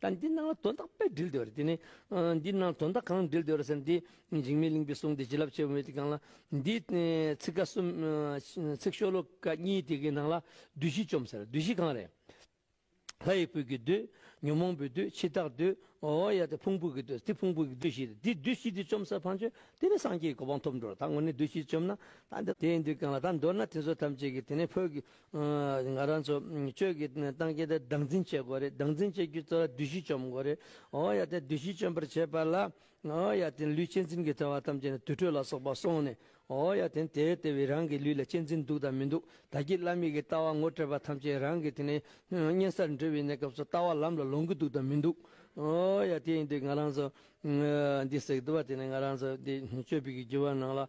དང་འདི་སྣང་ལ་དོན་དག་པས་འདྲིལ་འདོད་རེད་དེ་ནི། འདི་སྣང་ལ་དོན་དག་གང་འདྲིལ་འདོད་རེད་ཟེར་ན་འདི་འཇིགས་མེད་གླིང་པའི་གསུང་དེ་བྱིན་རླབས་ཆེན་པོ་མེད་དེ་གང་ལ། འདིའི་ཚིག་ཀ་གསུམ། ཚིག་ཤོ་ལོ་ཀ་གཉིས་དེ་གའི་ནང་ལ་བདུད་བཞི་བཅོམ་ཟེར་བདུད་བཞི་གང་རེད། ལྷ་ཡི་བུ་གི་བདུད། ཉོན་མོངས་པའི་བདུད་འཆི་བདག་བདུད། འོ་ཡ་དེ་ཕུང་པོ་གི་བདུད་དེ་ཕུང་པོ་གི་བདུད་བཞི་རེད་དེ་བདུད་བཞི་དེ་བཅོམ་ཟེར་བམ་ཆོས་དེ་ནི་སངས་རྒྱས་ཀྱི་གོ་འཕང་ཐོབ་འགྲོ་རེད་ད་དངོས་གནས་བདུད་བཞི་བཅོམ་ན། དེའི་འདུལ་གང་ལ་ད་འདོད་ན་དེ་ཚོ་ཐམས་ཅད་ཀྱི་དེ་ནས་ཕོད་ཀྱི་ང་རང་ཚོ་ཆོས་ཀྱི་ཏང་སྐྱིད་དེ་སྡང་འཛིན་བྱེད་དགོས་རེད་སྡང་འཛིན་བྱེད་རྒྱུ་ཚོ་བདུད་བཞི་བཅོམ་དགོས་རེད་ཨོ་ཡ་དེ་བདུད་བཞི་བཅོམ་པར་བྱེད་པ་ལ་ཨོ་ཡ་དེ་ལུས་གཅེས་འཛིན་གྱི་ཐོས་བ་ཐམས་ཅད་ནི་དུར་ཁྲོད་ལ་སོགས་པ་སོང་ནས་ཨོ་ཡ་དེ་དེ་དེ་བས་རང་གི་ལུས་ལ་གཅེས་འཛིན་འདུག་དང་མི་འདུག་ད་ཀྱི་བླ་མེད་ཀྱི་ལྟ་བ་ངོ་སྤྲད་པ་ཐམས་ཅད་རང་གི་དེ་ནི་གཉན་སར་འགྲོ་བའི་གནས་སྐབས་སུ་ལྟ་བ་ལམ་ལ་ལོང་གི་འདུག་དང་མི་འདུག་ཨོ་ཡ་དེ་ཡིན་དུས་ང་རང་ཚོ་འདི་ཟེགས་འདུག་བ་དེ་ནི་ང་རང་ཚོ་འདི་ཆོས་ཕིག་གི་རྒྱུ་བ་ནང་ལ།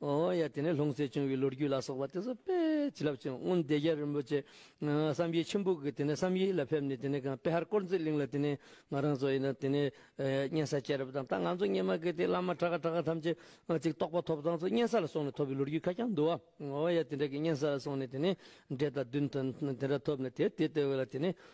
ཨོ་ཡ་དེ་ནས་ལྷུང་བཟེད་བྱུང་བའི་ལོ་རྒྱུས་ལ་སོགས་པ་དེ་ཚོ་དཔེ་ཇི་ལབ་ཅིང་དབོན་སྡེ་རྒྱལ་རིན་པོ་ཆེ་བསམ་ཡས་ཆུན་པོ་གིས་དེ་ནས་བསམ་ཡས་ལ་ཕེབས་ནས་དེ་ནས་དཔེ་ཧར་དཀོར་མཛེས་གླིང་ལ་དེ་ནས་ང་རང་ཚོ་ཡིན་ན་དེ་ནས་གཉན་ས་སྐྱེས་རབས་དང་ད་ང་ཚོ་སྙེ་མ་གི་དེ་བླ་མ་གྲགས་གྲགས་ཐམས་ཅད་ཅིག་རྟོགས་པ་ཐོབ་ཐང་ཚོ་གཉན་ས་ལ་སོང་ནས་ཐོབ་པའི་ལོ་རྒྱུས་ཁ་རྐྱང་འདུག་ཨོ་ཡ་དེ་འདྲ་གི་གཉན་ས་ལ་སོང་ནས་དེ་ནས་འབྲས་དང་བདུན་དང་དེ་འདྲ་ཐོབ་ནས་དེ་དེ་ལྟེ་བའི་ལ་དེ་ནས་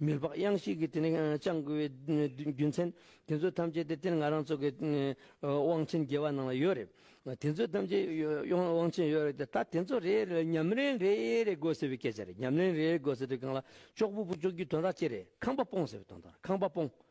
མི་ལྤགས་གཡང་ཞིག་གིས་དེ་ནས་བཅང་དགོས་པའི་རྒྱུ་མཚན། དེ་ཚོ་ཐམས་ཅད་དེ་དེར་ང་རང་ཚོ་གི་དབང་ཆེན་རྒྱལ་བ་ནང་ལ་ཡོད་རེད། དེ་ཚོ་ཐམས་ཅད་དབང་ཆེན་ཡོད་རེད་དེ། ད་དེ་ཚོ་རེ་རེ་ལ་ཉམས་ལེན་རེ་རེ་དགོས་ཟེར་བའི་སྐད་ཆ་རེད། ཉམས་ལེན་རེ་རེ་དགོས་ཟེར་དུས་གང་ལ་ཅོག་པུ་པུ་ཅོག་རྒྱུའི་དོན་ར་ཅི་རེད། ཁང་པ་སྤོང་ཟེར་བའི་དོན་དང་ར་ཁང་པ་སྤོང།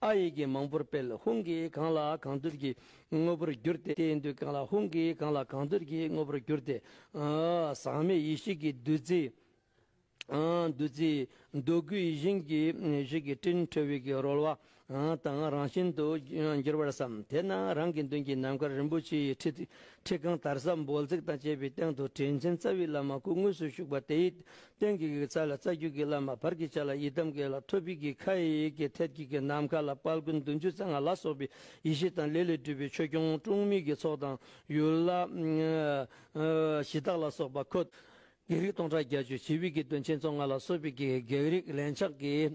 ཨ་ཡིག་གིས་མང་པོར་སྤེལ་ཧུང་གིས་གང་ལ་གང་འདོད་ཀྱི་དངོས་པོར་བསྒྱུར་ཏེ་བསྟན་དུས་གང་ལ་ཧུང་གིས་གང་ལ་གང་འདོད་ཀྱི་དངོས་པོར་བསྒྱུར་ཏེ། ཟག་མེད་ཡེ་ཤེས་ཀྱི་བདུད་རྩི། བདུད་རྩི། འདོད་རྒུའི་ཡིད་བཞིན་གྱི་གཞི་གི་སྤྲིན་འཕྲོ་བས་ཀྱི་རོལ་བ་དང་རང་བཞིན་དུ་འགྱུར་བར་བསམ། དེ་ན་རང་གི་མདུན་གྱི་ནམ་མཁར་རིན་པོ་ཆེའི་ཁྲི། ཁྲི་རྐང་དར་ཟབ་འབོལ་ཚིགས་དང་བཅས་པའི་སྟེང་དུ་དྲིན་ཆེན་རྩ་བའི་བླ་མ་སྐུ་དངོས་སུ་བཞུགས་པ་དེའི་སྟེང་གི་གི་ཚ་ལ་རྩ་རྒྱུད་ཀྱི་བླ་མ་བར་གྱི་བྱ་ལ་ཡི་དམ་གྱི་ལ་ཐོད་ཕིག་གི་ཁ་ཡི་ཡིག་གི་ཐད་ཀྱི་གི་ནམ་མཁའ་ལ་དཔལ་ཀུན་འདུས་འཇུ་ཚ་ང་ལ་སོགས་པའི་ཡེ་ཤེས་དང་ལས་ལས་སྤྲུལ་པའི་ཆོས་སྐྱོང་དཀྲུང་མིག་གི་ཚོགས་དང་ཡུལ་ལྷ། གཞི་བདག་ལ་སོགས་པ་འཁོད། བགེགས་རིགས་སྟོང་ཕྲག་བརྒྱ་ཅུ་ཞི་བའི་གི་དོན་ཆེན་ཚོགས་ང་ལ་སོགས་པའི་གི་བགེགས་རིགས་ལན་ཆགས་ཀྱི་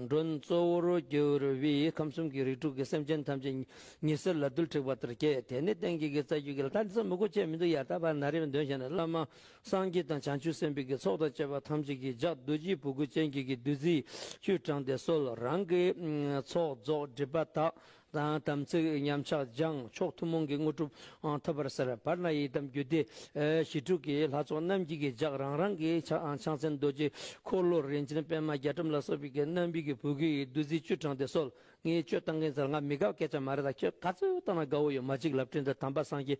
མགྲོན་གཙོ་བོར་གྱུར་བས་ཁམས་གསུམ་གྱི་རིགས་དྲུག་གི་སེམས་ཅན་ཐམས་ཅད་ཉི་ཟེར་ལ་རྡུལ་འཁྲིགས་པ་ལྟར་བསྐྱེད་དེ་ནས་སྟེང་གི་གི་རྩ་རྒྱུད་ཀྱི་ལྷ། དེ་ཚོ་མི་དགོས་ཆེད་མི་འདུག་ཡར་ལྟ་བར་ན་རེ་བའི་འདོན་བྱས་ནས་བླ་མ། སངས་རྒྱས་དང་བྱང་ཆུབ་སེམས་དཔའི་ཀྱི་ཚོགས་དང་བཅས་པ་ཐམས་ཅད་ཀྱི་ལྗགས་རྡོ་རྗེའི་བུ་གུ་ཅན་གྱི་ཀྱི་བདུད་རྩིའི་བཅུད་དྲངས་ཏེ་གསོལ། རང་གི་ཚོགས་རྫོགས་སྒྲིབ་པ་དག་དང་དམ་ཚིག་ཉམས་ཆག་སྦྱངས་མཆོག་ཐུན་མོང་གི་དངོས་གྲུབ་ཐོབ་པར་ཟེར། བར་ན་ཡི་དམ་རྒྱུད་སྡེ་ཞི་དྲུག་གི་ལྷ་ཚོགས་རྣམས་ཀྱི་ཀྱི་ལྗགས་རང་རང་གི་ཕྱག་ཕྱག་མཚན་རྡོ་རྗེ་འཁོར་ལོ་རིན་ཆེན་པད་མ་རྒྱ་གྲམ་ལ་སོགས་པའི་ཀྱི་རྣམ་པའི་ཀྱི་བུ་གུ་ཡི་བདུད་རྩིའི་བཅུད་དྲངས་ཏེ་གསོལ། ངས་ཆོས་བསྟང་མཁན་ཚོ་ལ་ང་མི་དགའ་བ་སྐད་ཆ་མ་རེད་ད་ཁྱོད་ག་ཚོད་བཏང་ན་དགའ་བོ་ཡོད་མ་ཅིག་ལབ་ཕྲེང་འདི་དམ་པ་སངས་རྒྱས་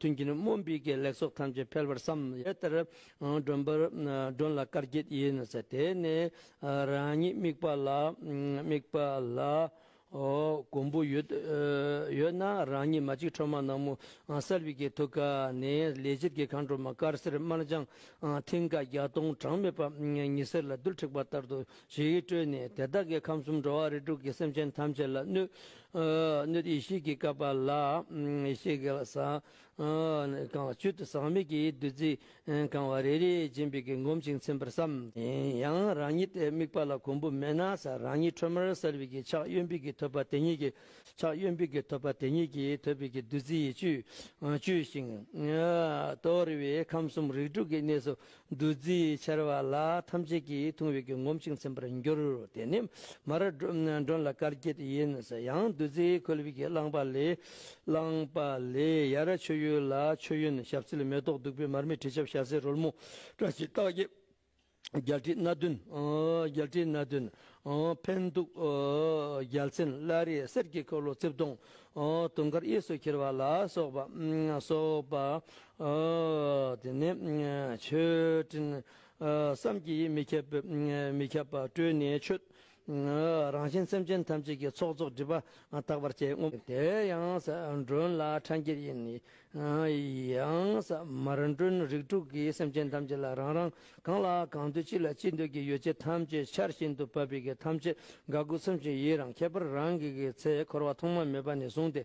ཐུན་གྱི་ནི་མོན་པི་ཀའི་ལེགས་ཚོགས་ཐམས་ཅད་འཕེལ་བར་བསམ། དེ་ལྟར་མགྲོན་པར་མགྲོན་ལ་དཀར་འགྱེད་ཡིན་ནོ། དེ་ནས་རང་ཉིད་དམིགས་པ་ལ་དམིགས་པ་ལ། མགོན་པོ་ཡོད་ཡོད་ན་རང་ཉིད་མ་གཅིག་ཁྲོ་མ་ནག་མོ་གསར་བི་ཀའི་ཐུགས་ཀ་ནས་ལས་ཕྱིར་གྱི་མཁའ་འགྲོ་མ་དཀར་སེར་དམར་ལྗང་མཐིང་ག་བརྒྱ་སྟོང་གྲངས་མེད་པ་ཉི་ཟེར་ལ་རྡུལ་འཁྲིགས་པ་ལྟར་དུ་ཇི་ཡིས་སྤྲོས་ནས་དེ་དག་གི་ཁམས་གསུམ་འགྲོ་བ་རིས་དྲུག་གི་སེམས་ཅན་ཐམས་ཅད་ལ་གནོད། ཡེ་ཤེས་ཀྱི་བསྐལ་པ་ལ་ཡེ་ཤེས་ཀྱི་ལ་ཟངས་གང་བ་བཅུད་དུ་ཟག་མེད་ཀྱི་བདུད་རྩི་གང་བ་རེ་རེས་སྦྱིན་པའི་གིས་བསྒོམ་ཞིང་ཚིམ་པར་བསམ། ཡང་རང་ཉིད་དེའི་དམིགས་པ་ལ་གོང་བུ་མེད་ན་ས་རང་ཉིད་ཁྲོས་མར་གསལ་བའི་གིས་ཕྱག་གཡོན་པས་གིས་ཐོད་པ་དེ་ཉིད་ཀྱི་ཕྱག་གཡོན་པས་གིས་ཐོད་པ་དེ་ཉིད་ཀྱི་ཐོད་པའི་གིས་བདུད་རྩི་ཡི་བཅུད་བཅུས་ཤིང། དོར་བས་ཁམས་གསུམ་རིགས་དྲུག་གི་གནས་སུ་བདུད་རྩིའི་ཆར་བ་ལ་ཐམས་ཅད་ཀྱིས་འཐུང་བས་གྱིས་ངོམས་ཤིང་ཚིམ་པར་འགྱུར་རོ། དེ་ནི་མ་ར་སྒྲོན་ལ་དཀར་སྐྱིད་ཡིན། ཡང་བདུད་རྩིའི་ཁོལ་བུས་ཀྱིས་བླངས་པ་ལས། བླངས་པ་ལས་ཡར་མཆོད་ཡུལ་ལ་མཆོད་ཡོན་ཞབས་བསིལ་མེ་ཏོག་བདུག་སྤོས་མར་མེ་དྲི་ཆབ་ཤ་ཟའི་རོལ་མོ་བཀྲ་ཤིས་རྟགས་བརྒྱད་རྒྱལ་ཁྲི་སྣ་བདུན། རྒྱལ་ཁྲི་སྣ་བདུན། འཕན་གདུགས་རྒྱལ་མཚན་བླ་རེ་གསེར་གྱི་འཁོར་ལོ་རྩིབས་སྟོང། དུང་དཀར་གཡས་སུ་འཁྱིལ་བ་ལ་སོགས་པ། དེ་ནས་མཆོད་སྤྲིན་བསམ་གྱིས་མི་ཁྱབ་པོས་མི་ཁྱབ་པ་སྤྲོས་ནས་མཆོད། རང་བཞིན་སེམས་ཅན་ཐམས་ཅད་ཀྱི་ཚོགས་རྫོགས་སྒྲིབ་པ་དག་པར་བྱས། དེ་ཡང་ས་མགྲོན་ལ་ཕྲ་འགྱེད་ཡིན། ཡང་ས་མར་མགྲོན་རིགས་དྲུག་གིས་སེམས་ཅན་ཐམས་ཅད་ལ་རང་རང་གང་ལ་གང་འདོད་ཅི་ལ་ཅི་འདོད་ཀྱི་ཡོ་བྱད་ཐམས་ཅད་ཆར་བཞིན་དུ་བབས་པས་ཐམས་ཅད་དགའ་མགུ་ཚིམ་ཞིང་ཡི་རང་ཁྱད་པར་རང་གི་གི་ཚེ་འཁོར་བ་ཐོག་མ་མེད་པ་ནས་བཟུང་སྟེ་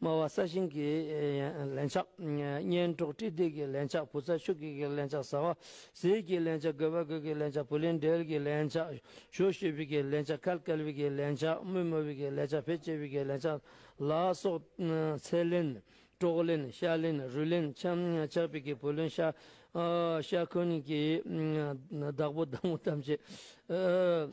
སྨྲ་བ་ས་ཞིང་གི་ལན་ཆགས། གཉེན་གྲོགས་བཀྲིས་བདེ་གི་ལན་ཆགས་བུ་ཚ་ཤུགས་ཀྱིས་ཀྱི་ལན་ཆགས་ཟ་བ་ཟས་ཀྱི་ལན་ཆགས་དགོས་པ་དགོས་ཀྱི་ལན་ཆགས་བུ་ལེན་འབྲེལ་གྱི་ལན་ཆགས་ཞོ་ཞོ་བུས་ཀྱི་ལན་ཆགས་ཁལ་ཀལ་བུས་ཀྱི་ལན་ཆགས་དམུས་དམའ་བུས་ཀྱི་ལན་ཆགས་བེ་ལྕེ་བུས་ཀྱི་ལན་ཆགས་ལ་སོགས། ཚེ་ལེན། གྲོགས་ལེན་ཤ་ལེན་རུས་ལེན་ཆམ་ཆག་བུས་ཀྱི་བུ་ལོན་ཤ་ཤ་འཁོན་གྱི་བདག་པོ་བདག་མོ་ཐམས་ཅད།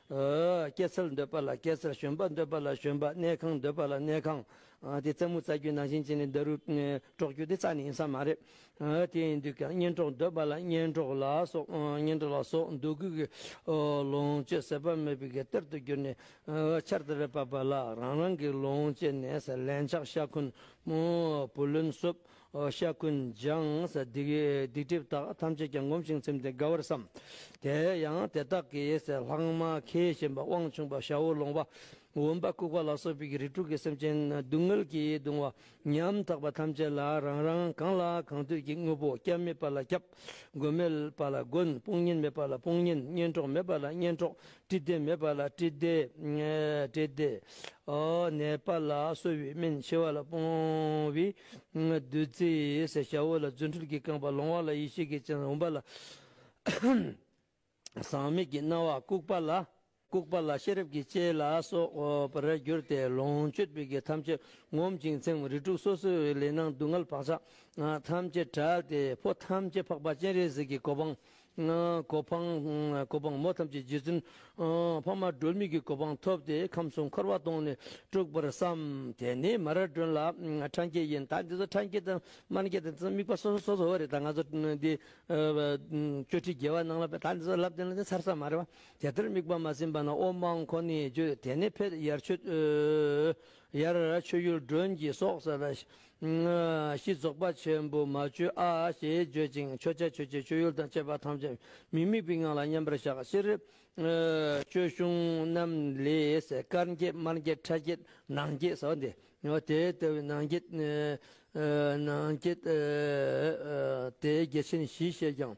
སྐྱེད་ཚལ་འདོད་པ་ལ་སྐྱེད་ཚལ་ཞོན་པ་འདོད་པ་ལ་ཞོན་པ་གནས་ཁང་འདོད་པ་ལ་གནས་ཁང། དེ་རྩེད་མོ་རྩ་རྒྱུད་ནང་བཞིན་བྱས་ནས་འདི་རུ་དཀྲོག་རྒྱུ་དེ་རྩ་ནི་ཡིན་ས་མ་རེད། དེ་ཡིན་དུས་ཀྱང་གཉེན་གྲོགས་འདོད་པ་ལ་གཉེན་གྲོགས་ལ་སོགས་འདོད་དགུ་གི་ལོངས་སྤྱོད་ཟད་པ་མེད་པའི་གཏེར་དུ་གྱུར་ནས་ཆར་དེ་རེ་བབས་པ་ལ་རང་རང་གི་ལོངས་སྤྱད་ནས་ལན་ཆགས་ཤ་འཁོན་བུ་ལོན་གསོབ་ཤ་ཀུན་སྦྱངས་སྡིག་སྒྲིབ་དག་ཐམས་ཅད་ཀྱང་བསྒོམ་ཞིང་ཚིམ་སྟེ་དགའ་བར་བསམ། དེ་ཡང་དེ་དག་གིས་ལྷག་མ་མཁས་བཞིན་པ་དབང་ཕྱུག་པ་ཤ་བོ་ལོང་བ་འོན་པ་ལྐུགས་པ་ལ་སོགས་པའི་རིགས་དྲུག་གི་སེམས་ཅན་སྡུག་བསྔལ་གྱིས་གདུང་བ་ཉམ་ཐག་པ་ཐམས་ཅད་ལ་རང་རང་གང་ལ་གང་འདོད་ཀྱི་དངོས་པོ་སྐྱབས་མེད་པ་ལ་སྐྱབས། མགོན་མེད་པ་ལ་མགོན་དཔུང་གཉེན་མེད་པ་ལ་དཔུང་གཉེན་གཉེན་གྲོགས་མེད་པ་ལ་གཉེན་གྲོགས་བཀྲིས་བདེ་མེད་པ་ལ་བཀྲིས་བདེ། བཀྲིས་བདེ། ནད་པ་ལ་གསོ་བའི་སྨན་ཕྱི་བ་ལ་སྤོང་བའི་བདུད་རྩིའི་ཟས་བྱའོ་ལ་རྫུ་འཕྲུལ་གྱི་རྐང་པ་ལོང་བ་ལ་ཡེ་ཤེས་ཀྱི་སྤྱན་རུང་བ་ལ། ཟག་མེད་ཀྱི་སྣང་བ་ལྐུགས་པ་ལ། ལྐུགས་པ་ལ་ཤེས་རབ་ཀྱི་ལྕེ་ལ་སོགས་པར་གྱུར་ཏེ་ལོངས་སྤྱོད་པའི་གེགས་ཐམས་ཅད་ངོམས་ཅིང་ཚེམས་རིས་དྲུག་སོ་སོའི་ལས་སྣང་སྡུག་བསྔལ་བག་ཆགས་ཐམས་ཅད་བྲལ་ཏེ་ཕོ་ཐམས་ཅད་འཕགས་པ་སྤྱན་རས་གཟིགས་ཀྱི་གོ་འཕང་གོ་འཕང། གོ་འཕང་མོ་ཐམས་ཅད་རྗེ་བཙུན་འཕགས་མ་སྒྲོལ་མེད་ཀྱི་གོ་འཕང་ཐོབ་སྟེ་ཁམས་གསུམ་འཁོར་བ་སྟོངས་ནས་སྤྲུགས་པར་བསམ། དེ་ནས་མ་ར་སྒྲོན་ལ་འཕྲང་སྐྱེས་ཡིན་ད་འདི་ཚོ་འཕྲང་སྐྱེས་དང་དམར་སྐྱེས་དང་འདི་དམིགས་པ་སོ་སོ་སོ་སོ་རེད་ད་ང་ཚོ་འདི་བཅོ་ཁྲི་རྒྱལ་བ་གནང་ལ་ད་འདི་ཚོ་ལབ་བསྟན་ལ་འདི་ཚར་ས་མ་རེད་བ། དེ་ལྟར་དམིགས་པ་མ་ཟིན་པ་ན་དབོ་འབངས་ཁོ་ནས་བརྗོད་དེ་ནས་ཕེབས་ཡར་ཆོས་ཡུལ་སྒྲོན་གྱི་སོགས་ས་ལ་ཤིས་རྫོགས་པ་ཆེན་པོ་མ་བཅོས་ཨ་ཞེས་བརྗོད་ཅིང་མཆོད་བྱ་མཆོད་བྱེད་མཆོད་ཡུལ་དང་བཅས་པ་ཐམས་ཅད་མི་དམིགས་པའི་ངང་ལ་མཉམ་པར་བཞག། སྤྱིར་སྐྱོ་གཞུང་རྣམས་ལས་དཀར་འགྱེད་དམར་འགྱེད་ཁྲ་འགྱེད་ནག་འགྱེད་ཟེར་བ་འདི་དེ་ལྟ་བུའི་ནག་འགྱེད། ནག་འགྱེད། དེ་རྒྱལ་ཆེན་བཞིས་བཤད་ཀྱང།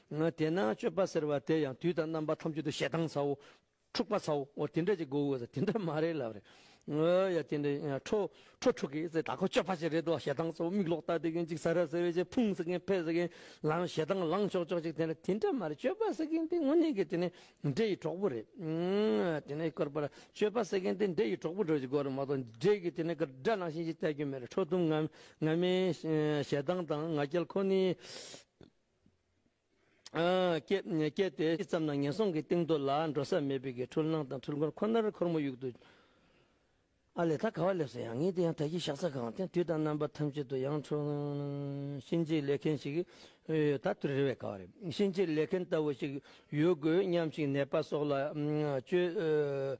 དེས་ན་སྤྱོད་པ་ཟེར་བ་དེ་ཡང་དུས་དང་རྣམ་པ་ཐམས་ཅད་དུ་ཞེ་སྡང་ཚའོ། འཁྲུག་པ་ཚའོ་དེ་འདྲ་ཅིག་དགོས་དགོས་ཟེར་དེ་འདྲ་མ་རེད་ལབ་རེད། ཡ་དེ་འདྲ་ཡིན་ཁྲོ་ཁྲོ་འཁྲུག་གི་ཟེར་ད་ཁོ་སྤྱོད་པ་ཅིག་རེད་དོ་ཞེ་སྡང་ཚའོ་མིག་ལོག་ལྟ་དེ་མཁན་ཅིག་ཟ་ར་ཟེར་བའི་ཆེ་ཕུང་ཟེར་མཁན་ཕལ་ཟེར་མཁན་ལའང་ཞེ་སྡང་ལངས་ཆོག་ཆོག་ཅིག་དེ་འདྲ་དེ་འདྲ་མ་རེད་སྤྱོད་པ་ཟེར་མཁན་དེ་དངོས་གནས་ཀྱི་དེ་ནི་འདྲེ་ཡི་གྲོགས་པོ་རེད། དེ་ནི་དཀར་པོ་ལ་སྤྱོད་པ་ཟེར་མཁན་དེ་འདྲེ་ཡི་གྲོགས་པོ་འགྲོ་ཅིག་དགོས་རེད་མ་གཏོགས་འདྲེ་གི་དེ་ནི་དགྲ་ནང་བཞིན་ཅིག་བལྟ་རྒྱུ་མེད་རེད་ཁྲོ་གཏུམ་ངར་མའི་ཞེ་སྡང་དང་ང་རྒྱལ་ཁོ་ནི། བསྐྱེད་དེ་ཅི་ཙམ་ན་ངན་སོང་གི་གཏིང་རྡོ་ལ་འགྲོ་ས་མེད་པའི་གི་འཁྲུལ་སྣང་དང་འཁྲུལ་འཁོར་ཁོ་ནར་འཁོར་མོ་ཡུག་ཏུ། ཨ་ལས་ད་ག་བ་སླེབས་སོང་ཡང་ངའི་དེ་ཡང་ད་གིའི་ཞག་ཚ་གང་དེ་དུས་དང་རྣམ་པ་ཐམས་ཅད་དུ་ཡང་འཁྲུལ། གཤིན་རྗེའི་ལས་མཁན་ཞིག་ད་དུ་རེ་བས་ག་བ་རེད་གཤིན་རྗེའི་ལས་མཁན་ལྟ་བུ་ཞིག་ཡོད་དགོས་སྙམ་ཞིང་ནད་པ་སོགས་ལ་བཅོལ།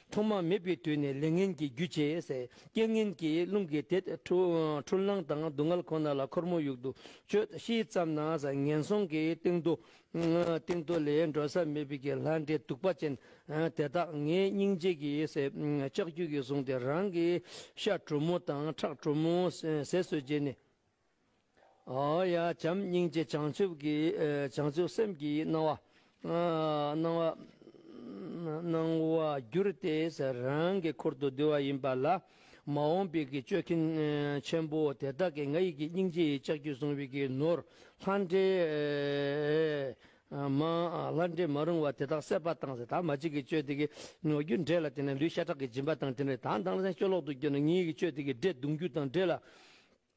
ཐོག་མ་མེད་པའི་དུས་ནས་ལས་ངན་གྱི་རྒྱུ་བྱས་ཟེར་རྐྱེན་ངན་གྱིས་རླུང་གིས་དེད་འཕྲོ་སྣང་དང་སྡུག་བསྔལ་ཁོ་ན་ལ་ཁོར་མོ་ཡུག་ཏུ་གཅོད་ཤེས་ཙམ་ན་ཟ་ངན་སོང་གི་སྟེང་དུ། སྟེང་དུ་ལས་འགྲོ་ས་མེད་པའི་གི་ལྷ་འདྲེ་གདུག་པ་ཅན་དེ་དག་ངའི་སྙིང་རྗེ་གི་ལྕགས་ཀྱུ་གིས་བཟུང་སྟེ་རང་གི་ཤ་དྲོ་མོ་དང་ཁྲག་དྲོ་མོ་ཟས་སུ་བརྗེས་ནས། ཡ། བྱམས་སྙིང་རྗེ་བྱང་ཆུབ་ཀྱི་བྱང་ཆུབ་སེམས་ཀྱི་སྣང་བ། སྣང་བ། སྣང་བ་བསྒྱུར་ཏེ་རང་གི་འཁོར་དུ་བསྡུ་བ་ཡིན་པ་ལ། མ་འོངས་པའི་གྱི་སྤྱོད་མཁན་ཆེན་པོ་དེ་དག་གིས་ང་ཡིས་ཀྱི་སྙིང་རྗེ་ཡི་ལྕགས་ཀྱུས་བཟུང་བའི་གྱི་ནོར་ལྷ་འདྲེ་མ། ལྷ་འདྲེ་མ་རུང་བ་དེ་དག་སད་པ་དང་ཟད་དང་མ་བྱེད་ཀྱི་སྤྱོད་དེ་གི་ནོར་བསྒྱུར་འདྲེ་ལ་དེ་ནས་ལུས་ཤ་ཁྲག་གི་སྦྱིན་པ་དང་དེ་ནས་དང་དང་ལྷན་སྐྱོ་ལོག་ཏུ་སྐྱོ་ནས་ངའི་གྱི་སྤྱོད་དེ་གི་འདྲེ་གདུང་རྒྱུ་དང་འདྲེ་ལ།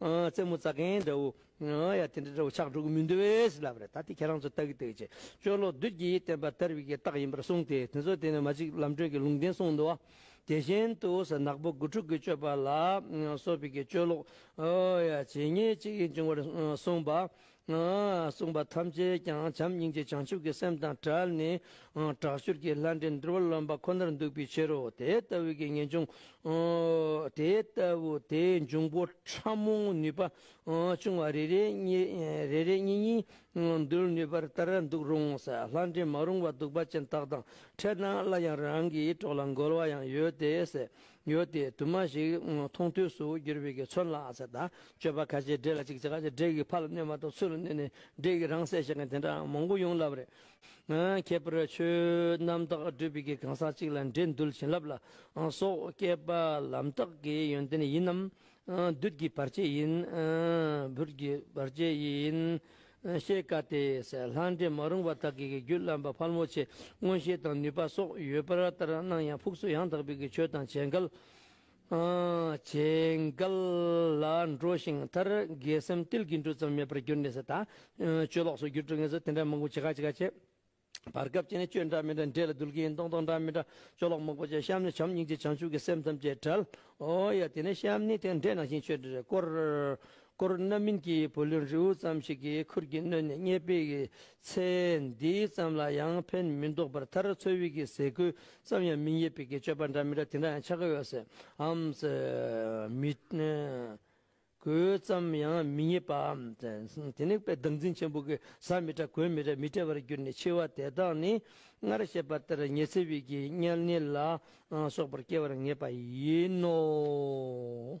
རྩེད་མོ་རྩ་མཁན་འདྲ་བོ། ཡ་དེ་འདྲ་འདྲ་བོ་ཆགས་འགྲོ་གི་མི་འདུག་བས་ལབ་རེད་ད་དེ་ཁྱེད་རང་ཚོ་ལྟ་གི་འདུག་ཅེས་ཅོ་ལོག་བདུད་ཀྱིས་བསྟན་པ་དར་བའི་རྟགས་ཡིན་པར་གསུངས་ཏེ་དེ་ཚོ་དེ་ནས་མ་ཅིག་ལམ་བགྲོད་ཀྱི་ལུང་བསྟན་གསུངས་འདུག་དེ་བཞིན་དུ་ཟ་ནག་པོ་དགུ་ཕྲུག་གི་སྤྱོད་པ་ལ་སོགས་པའི་ཀྱི་ཅོ་ལོག། ཡ་བྱེད་ངེས་ཅིག་ཡིན་ཅིང་བར་གསུངས་པ། གསུངས་པ་ཐམས་ཅད་ཀྱང་བྱམས་སྙིང་རྗེ་བྱང་ཆུབ་ཀྱི་སེམས་དང་བྲལ་ནས་དྲག་ཤུལ་གྱི་ལྷ་འདྲེ་འདུལ་བ་ལོན་པ་ཁོ་ནར་འདུག་པའི་ཕྱིར་རོ། དེ་ལྟ་བུའི་གྱི་ངེས་འབྱུང་དེ་ལྟ་བུ་དེའི་འབྱུང་པོ་ཕྲ་མོའི་ནུས་པ་ཆུང་བ་རེ་རེ་གཉིས་གཉིས་འདུལ་ནུས་པར་ལྟར་འདུག་རུང་ལྷ་འདྲེ་མ་རུང་བ་གདུག་པ་ཅན་དག་དང་ཕྲད་ན་སླར་ཡང་རང་གི་གྲོགས་ལ་འགོལ་བ་ཡང་ཡོད་དེ། ཡོད་དེ་དུ་མ་ཞིག་མཐོང་ཐོས་སུ་གྱུར་པའི་གི་ཚོན་ལ་ཨ་ཚ་དང་སྤྱོད་པ་ཁ་ཆེ་འདྲེས་ལ་ཅིག་ཅར་ཁ་ཆེ་འདྲེས་ཀྱི་ཕ་ལ་གནོད་མ་ཏོག་ཚུལ་ལ་གནོད་ནས་འདྲེས་ཀྱི་རང་སྲེག་བྱེད་མཁན་དེ་འདྲ་མང་པོ་ཡོང་སླབས་རེད། ཁྱད་པར་ཆོས་རྣམ་དག་སྒྲུབ་པའི་གི་གང་ཟག་ཅིག་ལ་འདྲེས་འདུལ་བྱིན་རླབས་ལ་སོགས་བསྐལ་པ་ལམ་རྟགས་ཀྱི་ཡོན་ཏན་ཡིན་ནམ། བདུད་ཀྱི་བར་ཆད་ཡིན། བུར་གྱི་བར་ཆད་ཡིན། བཤད་བཀའ་དེས་ལྷ་འདྲེ་མ་རུངས་པ་དག་གིས་རྒྱུད་བླ་མ་ཕལ་མོ་ཆེ་མངོན་ཤེས་དང་ནུས་པ་སོགས་ཡོད་པར་ལྟར་སྣང་ཡང་ཕུགས་སུ་ཡང་དག་པའི་ཆོས་དང་བྱེད་འགལ། བྱེད་འགལ་ལ་འགྲོ་ཞིང་མཐར་དགེ་སེམས་ཏིལ་གྱི་འབྲུ་ཙམ་མེད་པར་གྱུར་ནས་ད་ཆོས་ལོག་སོགས་རྒྱུད་དཀྲུགས་ངན་སོགས་དེ་འདྲ་མང་པོ་ཇི་ག་ཇི་ག་བྱེད། བར་སྐབས་ཅན་ནི་སྤྱོད་འདྲ་མི་འདྲ་འདྲེས་ལ་འདུལ་གྱི་ཡིན་སྟོང་སྟོང་འདྲ་མི་འདྲ་སྤྱོད་ལོག་མག་པོ་ཅན་བཤམས་ནས་བྱམས་སྙིང་རྗེ་བྱང་ཆུབ་ཀྱི་སེམས་ཐམས་ཅད་བྲལ། ཨོ་ཡ་དེ་ནས་བཤམས་ནི་དེ་འདྲེས་ནང་བཞིན་ཆོས་འདྲེས་རེ་བསྐོར། བསྐོར་རྣམ་སྨིན་གྱི་བུ་ལོན་རེའུ་ཙམ་ཞིག་གིས་ཁུར་གྱིས་བསྣོལ་ནས་རྙེད་པའི་ཚེ། འདིའི་ཙམ་ལ་ཡང་ཕན་མི་འདོགས་པར་མཐར་ཚོད་དབྱིག་གི་ཟས་གོས་ཙམ་ཡང་མི་རྙེད་པའི་གི་སྤྱོད་པ་འདྲ་མི་འདྲ་དེ་འདྲ་ཡང་ཆགས་ཀྱི་ཡོད། ཧམ། མི། གོས་ཙམ་ཡང་མི་རྙེད་པའམ། དེ་ནི་དཔེ་བདག་འཛིན་ཆེན་པོ་གི་ཟ་མི་བྲ་གོས་མི་བྲ་མི་བྲལ་བར་གྱུར་ནས་འཆི་བ་དེ་དག་ནི་སྔར་བཤད་པ་ལྟར་ཉེ་ཚེ་དབྱིག་གི་དམྱལ་ནི་ལ་སོགས་པར་སྐྱེ་བར་ངེས་པ་ཡིན་ནོ།